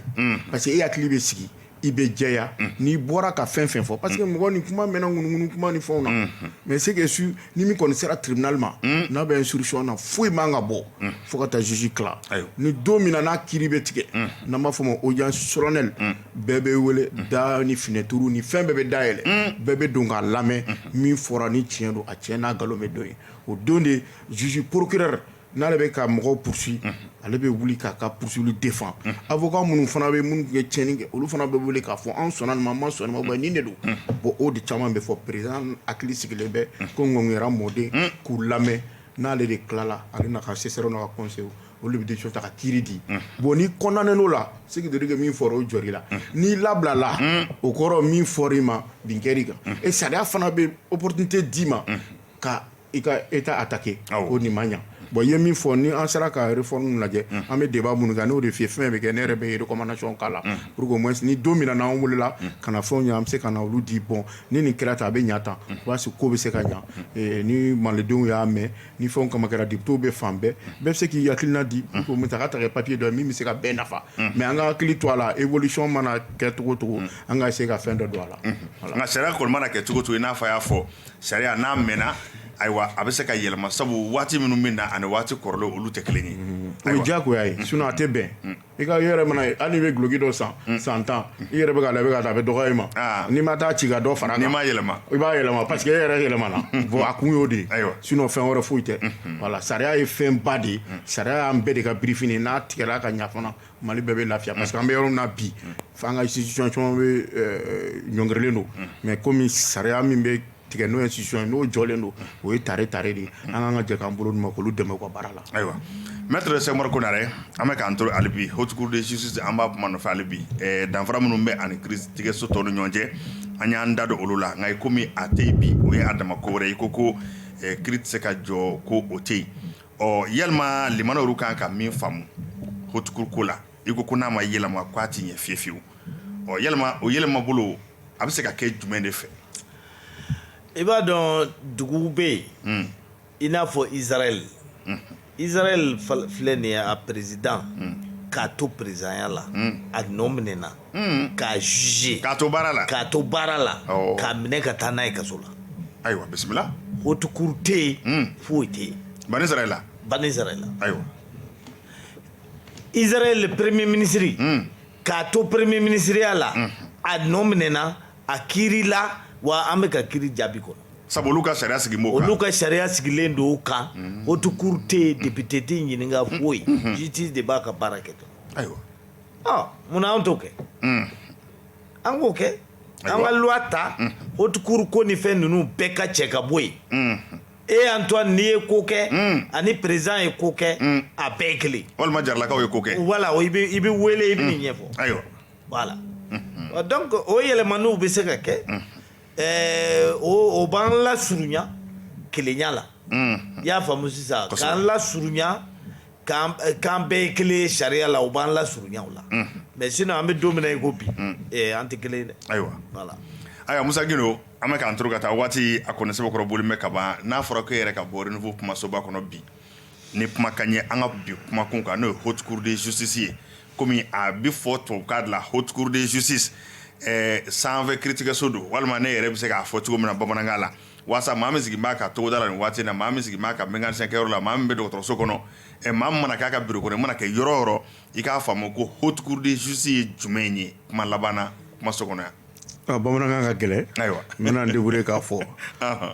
[SPEAKER 2] parce que e hakili bɛ sigi i bɛ jɛya n'i bɔra ka fɛn fɛn fɔ parce que mɔgɔ ni kuma mɛnna ŋunuŋunu kuma ni fɛnw na mais c'est que su ni min kɔni sera tribunal ma n'a bɛ instruction na foyi man ka bɔ fo ka taa juge tila ni don min na n'a kiiri bɛ tigɛ n'an b'a fɔ ma audience bɛɛ bɛ wele da ni finɛturu ni fɛn bɛɛ bɛ dayɛlɛ bɛɛ bɛ don k'a lamɛn min fɔra ni tiɲɛ don a tiɲɛ n'a nkalon bɛ don ye o don de juge procureur n'ale bɛ ka mɔgɔw poursuivre ale bɛ wuli k'a ka poursuite défendre avocat minnu fana bɛ minnu ye tiɲɛni kɛ olu fana bɛ wele k'a fɔ an sɔnna nin ma an ma sɔn nin ma nin de don bon o de caman bɛ fɔ président hakili sigilen bɛ ko ŋkun mɔden k'u lamɛn n'ale de tilala ale n'a ka assesseurw n'a ka conseillerw olu bɛ ta ka kiiri di bon ni condamnéla o la c'est-à-dire que min fɔra o jɔl'i la n'i labilala o kɔrɔ min fɔr'i ma bin kɛr'i kan et sariya fana bɛ opportunité d'i ma ka État attaquer ko nin ma ɲɛ bon i ye min fɔ ni an sera ka réforme lajɛ an bɛ débat minnu kan n'o de fi fɛn bɛ kɛ ne yɛrɛ bɛ recommandation k'a la pour que au moins ni don min n'an welela ka na fɛn an bɛ se ka na olu di bon ni nin kɛra tan a bɛ ɲa tan o b'a sɔrɔ ko bɛ se ka ɲa ni malidenw y'a mɛn ni fɛnw kama kɛra depitew bɛ fan bɛɛ bɛɛ bɛ se k'i hakilina di ko musa ka taa kɛ papiye dɔ ye min bɛ se ka bɛɛ nafa mais an ka hakili to a la évolution mana kɛ cogo o cogo an ka essayer ka fɛn dɔ don a la nka sariya kɔni mana
[SPEAKER 1] kɛ cogo o cogo i n'a fɔ y'a fɔ sariya n'a mɛnna ayiwa a bɛ se ka yɛlɛma sabu waati minnu min na ani waati kɔrɔlen olu tɛ kelen ye o ye diyagoya ye
[SPEAKER 2] sinon a tɛ bɛn i ka yɛrɛ mana ye hali n'i bɛ guloki dɔ san mm. san tan i yɛrɛ bɛ k'a la i bɛ ka taa a bɛ dɔgɔya i ma ah. n'i ma taa ci ka dɔ fara kan n'i ma yɛlɛma i b'a
[SPEAKER 1] yɛlɛma parce que
[SPEAKER 2] e yɛrɛ yɛlɛmana bon a kun y'o de sinon fɛn wɛrɛ foyi tɛ mm-hmm. voilà sariya ye fɛn ba de ye mm. sariya y'an bɛɛ de ka birifini n'a tigɛla ka ɲa fana mali bɛɛ bɛ lafiya parce que an bɛ yɔrɔ min na bi mm. fo an ka institution caman bɛ ɲɔngirilen don mais komi sariya min bɛ tigɛ n'o institution n'o jɔlen don o ye tare tare de ye an kan ka jɛ k'an bolo d'u ma k'olu dɛmɛ u ka baara la ayiwa maître
[SPEAKER 1] Sɛkumaru Konare an bɛ k'an to hali bi haute cour de justice an b'a kuma nɔfɛ hali bi danfara minnu bɛ ani kiiritigɛso tɔw ni ɲɔgɔn cɛ an y'an da don olu la nka i kɔmi a tɛ yen bi o ye a dama ko wɛrɛ ye ko ko kiiri tɛ se ka jɔ ko o tɛ yen ɔ yalima lamɛnnaw kan ka min faamu haute cour ko la i ko ko n'a ma yɛlɛma k'a tɛ ɲɛ fi fiyewu ɔ yalima o yɛlɛma bolo a bɛ se ka kɛ jumɛn de
[SPEAKER 3] fɛ i b'a dɔn dugu bɛ yen hmm. i n'a fɔ izraɛl hmm. izraɛl filɛ nin ye a président hmm. k'a to présidentya la a nɔ minɛna k'a juger k'a to baara la k'a
[SPEAKER 1] to baara
[SPEAKER 3] la k'a minɛ ka taa n'a ye kaso la ayiwa
[SPEAKER 1] bisimila haute cour
[SPEAKER 3] tɛ yen foyi tɛ yen bani israɛl
[SPEAKER 1] bani israɛl ayiwa
[SPEAKER 3] izraɛl premier minisiri k'a to premier minisiriya la a nɔ minɛna a kiiri la wa an bɛ ka kiiri jaabi kɔnɔ sabu olu ka sariya sigi
[SPEAKER 1] m'o kan olu ka sariya sigilen
[SPEAKER 3] don o kan haute cour tɛ yen député tɛ ɲininka foyi justice de b'a ka baara kɛ dɔrɔn ayiwa ɔ
[SPEAKER 1] munna an t'o kɛ
[SPEAKER 3] an k'o kɛ an ka loi ta haute cour ko ni fɛn ninnu bɛɛ ka cɛ ka bɔ yen e Antoine n'i ye ko kɛ ani président ye ko kɛ a bɛɛ ye kelen walima jaralakaw ye ko
[SPEAKER 1] kɛ voilà i
[SPEAKER 3] bɛ wele i bɛ nin ɲɛfɔ ayiwa voilà donc o yɛlɛmaniw bɛ se ka kɛ o b'an lasurunya kelenya la i y'a faamu sisan k'an lasurunya k'an bɛɛ ye kelen sariya la o b'an lasurunya la mais sinon an bɛ don min na i ko bi an tɛ kelen dɛ ayiwa
[SPEAKER 1] voilà ayiwa
[SPEAKER 3] musa
[SPEAKER 1] An bɛ k'an to ka taa waati a kɔni sɛbɛkɔrɔ bolilen kaban n'a fɔra ko e yɛrɛ ka bɔ renouveau kumasoba kɔnɔ bi ni kuma ka ɲɛ an ka bi kumakun kan n'o ye haute cour de justice ye kɔmi a bɛ fɔ tubabukan de la haute cour de justice sanfɛ kiiritigɛso don walima ne yɛrɛ bɛ se k'a fɔ cogo min na bamanankan la walasa maa min sigi b'a ka togoda la nin waati in na maa min sigi b'a ka mécanicien kɛyɔrɔ la maa min bɛ dɔgɔtɔrɔso kɔnɔ ɛ maa min mana k'a ka bureau kɔnɔ i mana kɛ yɔrɔ o yɔrɔ i k'a faamu ko haute cour de justice ye jumɛn ye kuma laban na kumaso kɔnɔ yan bamanankan ka
[SPEAKER 2] gɛlɛn ayiwa n bɛna n débrouiller k'a fɔ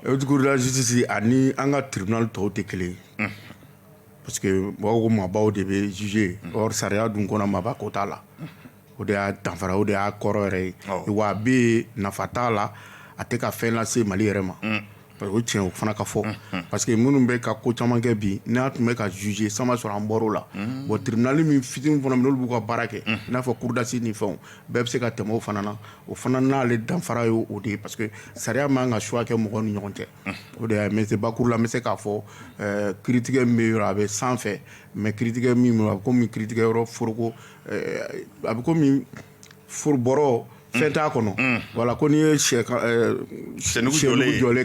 [SPEAKER 2] haute cour de la justice ani an ka tribunal tɔw tɛ kelen ye parce que mɔgɔw ko maabaw de bɛ juger yen or sariya dun kɔnɔ maaba ko t'a la o de y'a danfara o de y'a kɔrɔ yɛrɛ ye wa a bɛ yen nafa t'a la a tɛ ka fɛn lase Mali yɛrɛ ma O tiɲɛ o fana ka fɔ parce que minnu bɛ ka ko caman kɛ bi n'a tun bɛ ka juger san b'a sɔrɔ an bɔr'o la bon tribunal min fitinin fana olu b'u ka baara kɛ n'a fɔ cour d'assises ni fɛn bɛɛ bɛ se ka tɛmɛ o fana na o fana n'ale danfara ye o de ye parce que sariya man kan ka choix kɛ mɔgɔ ni ɲɔgɔn cɛ o de ye mais bakuru la n bɛ se k'a fɔ kiiritigɛ min bɛ yɔrɔ a bɛ sanfɛ mais kiiritigɛ min a bɛ kɔmi kiiritigɛyɔrɔ foroko a bɛ foro bɔrɔ fɛn t'a kɔnɔ voilà ko n'i ye jɔlen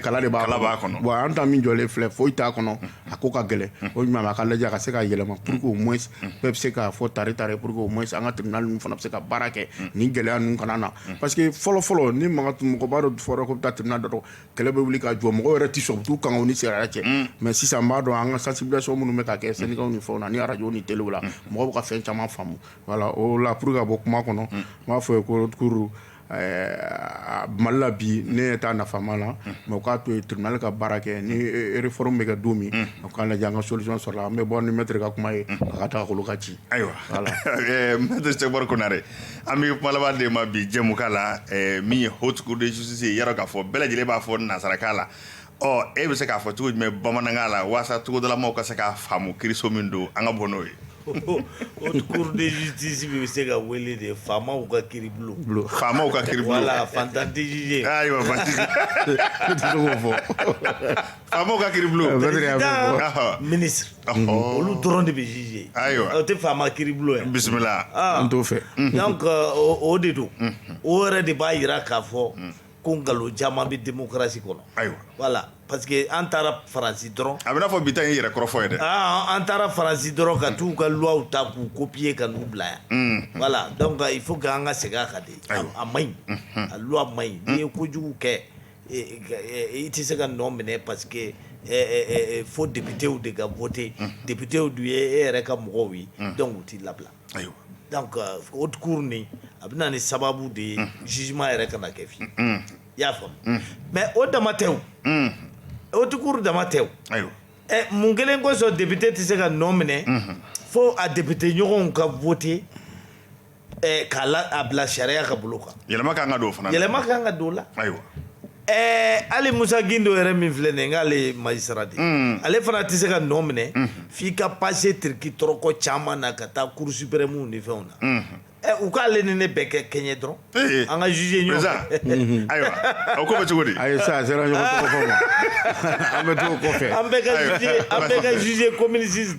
[SPEAKER 2] kala de b'a kɔnɔ bon an ta min jɔlen filɛ foyi t'a kɔnɔ a ko ka gɛlɛn o ɲuman a ka lajɛ a ka se ka yɛlɛma pour que au moins bɛɛ bɛ se k'a fɔ tari tari pour que au moins an ka tribunal ninnu fana bɛ se ka baara kɛ ni gɛlɛya ninnu kana na parce que fɔlɔfɔlɔ ni makan tun mɔgɔba dɔ fɔra ko bɛ taa tribunal dɔ kɛlɛ bɛ wuli ka jɔ mɔgɔ yɛrɛ tɛ sɔn t'u kan ni sariya cɛ mais sisan n b'a dɔn an ka sensibilisation minnu bɛ ka kɛ syndicatw ni fɛn ni radio ni téléw la mɔgɔw bɛ ka fɛn caman faamu Wala o la pur ka bɔ kuma kɔnɔ n b'a fɔ ye kokuru malila bi ne ye taa nafama la mɛ k'a to tile ka baara kɛ ni f bɛ kɛ don min o k'a lajɛ an ka sosɔn sɔrɔ an bɛ bɔ ni mɛtɛri ka kuma ye ka taa ka ci ayiwa
[SPEAKER 1] sɛri kɔnɔre an bɛ kuma de ma bi jɛmu la min ye htigiwsi ye yɔrɔ k'a fɔ bɛɛ lajɛlen b'a fɔ nanzsarakan la ɔ e bɛ se k'a fɔ cogo jumɛn bamanankan la walasa togodalamaw ka se k'a faamu kiriso min don an ka bɔ n'o ye
[SPEAKER 3] haute cour de justice bɛ se ka wele de faamaw ka kiribulon, bulon, faamaw ka kiribulon,
[SPEAKER 1] voilà fantan tɛ
[SPEAKER 3] juger, ayiwa fantan
[SPEAKER 1] ne tɛ se k'o fɔ, faamaw ka kiribulon,
[SPEAKER 3] président ministre olu dɔrɔn de bɛ juger, ayiwa o tɛ faama
[SPEAKER 1] kiribulon
[SPEAKER 3] ye, bisimila, an t'o
[SPEAKER 1] fɛ,
[SPEAKER 2] donc
[SPEAKER 3] o de don, o yɛrɛ de b'a jira k'a fɔ ko nkalon caman bɛ démocratie kɔnɔ, ayiwa,
[SPEAKER 1] voilà parce
[SPEAKER 3] que an taara Faransi dɔrɔn, a bɛ n'a fɔ bi ta in ye
[SPEAKER 1] yɛrɛ kɔrɔfɔ ye dɛ, an taara Faransi
[SPEAKER 3] dɔrɔn ka t'u ka loi ta k'u copier ka n'u bila yan, unhun, voilà donc il faut que an ka segin a kan dɛ, ayiwa, a maɲi, unhun, a loi maɲi, n'i ye kojugu kɛ i tɛ se ka nɔ minɛ parce que fo députéw de ka voter, unhun, députéw dun ye e yɛrɛ ka mɔgɔw ye, unhun, donc u t'i labila Ayiwa
[SPEAKER 1] donc haute
[SPEAKER 3] cour nin a bɛ na ni sababu de ye jugement yɛrɛ kana kɛ fiyewu i y'a faamu mais o dama tɛ haute cour dama tɛ ayiwa
[SPEAKER 1] mun
[SPEAKER 3] kelen kosɔn député tɛ se ka nɔ minɛ fo a député ɲɔgɔnw ka voter k'a bila sariya ka bolo kan yɛlɛma ka kan ka don o fana yɛlɛma
[SPEAKER 1] ka kan ka don o la
[SPEAKER 3] ayiwa Ɛɛ hali Musa Gindo yɛrɛ min filɛ nin k'ale ye magistrat de ale fana tɛ se ka nɔ minɛ f'i ka passer tirikitɔrɔkɔ caman na ka taa cour suprême ni fɛnw na ɛ u k'ale ni ne bɛɛ kɛ kɛɲɛ dɔrɔn an ka juger ɲɔgɔn fɛ ayiwa
[SPEAKER 1] a ko cogo di a ça sera ɲɔgɔn
[SPEAKER 2] an bɛ kɔfɛ an bɛɛ
[SPEAKER 3] ka juger ko minisi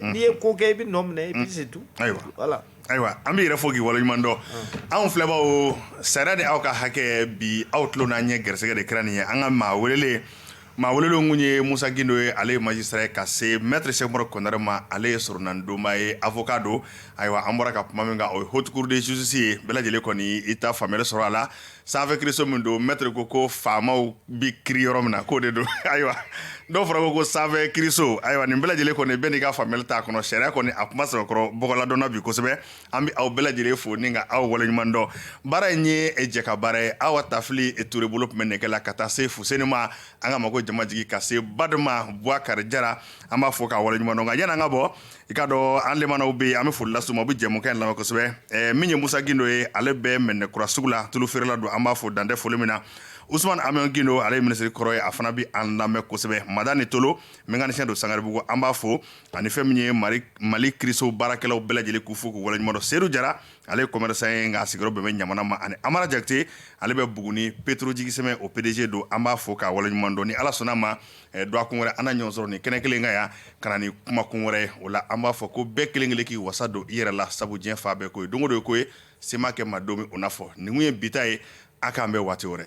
[SPEAKER 3] n'i ye ko kɛ i bɛ nɔ minɛ et puis c'est tout ayiwa voilà ayiwa an b'i yɛrɛ
[SPEAKER 1] fo k'i waleɲuman dɔn anw filɛbaaw sariya de aw ka hakɛ bi aw tulo n'an ɲɛ gɛrɛsɛgɛ de kɛra nin ye an ka maa welelen maa welelenw tun ye Musa Gindo ye ale ye magistrat ye ka se maître Sɛkumaru Kɔnare ma ale ye soronnadonbaa ye avocat don ayiwa an bɔra ka kuma min kan o ye haute cour de justice ye bɛɛ lajɛlen kɔni y'i ta faamuyali sɔrɔ a la sanfɛ kiiriso min don mɛtiri ko ko faamaw bɛ kiiri yɔrɔ min na k'o de don ayiwa dɔw fɔra ko ko sanfɛ kiiriso ayiwa nin bɛɛ lajɛlen kɔni bɛɛ n'i ka faamuyali t'a kɔnɔ sariya kɔni a kuma sɛbɛkɔrɔ bɔgɔladɔnna bi kosɛbɛ an bɛ aw bɛɛ lajɛlen fo ni ka aw waleɲuman dɔn baara in ye jɛkabaara ye awa tafili ture bolo tun bɛ nɛgɛ la ka taa se fuseni ma an ka mago jama jigi ka se badama buwakari jara an b'a fo k'a waleɲuman dɔn nka yan'an ka bɔ i k'a dɔn an lamɛnnaw bɛ yen an bɛ foli las'u ma u bɛ jɛmukan lamɛn kosɛbɛ eh, min ye musa gindo ye ale bɛ mɛnɛ kura sugu la tulu feerela don an b'a fo dan tɛ foli min na usman amion gindo ale ye minisiri kɔrɔ ye a fana bɛ an lamɛn kosɛbɛ madani tolo mekanisiyɛn don sangaribugu an b'a fo ani fɛn min ye mali kiriso baarakɛlaw bɛɛ lajɛlen k'u fo k'u waleɲuman dɔn seedu jara ale ye kɔmɛrisan ye nka a sigiyɔrɔ bɛn bɛ ɲamana ma ani amara jakite ale bɛ buguni petro jigisɛmɛ o pdg don an b'a fo k'a waleɲuman dɔn ni ala sɔnna ma ɛ dɔgɔkun wɛrɛ an na ɲɔgɔn sɔrɔ nin kɛnɛ kelen kan yan ka na ni kumakun wɛrɛ ye o la an b'a fɔ ko bɛɛ kelen kelen k'i wasa don i yɛrɛ la sabu diɲɛ fa bɛɛ ko ye don o don ye ko ye se ma kɛ maa don min o n'a fɔ nin kun ye bi ta ye a k'an bɛn waati wɛrɛ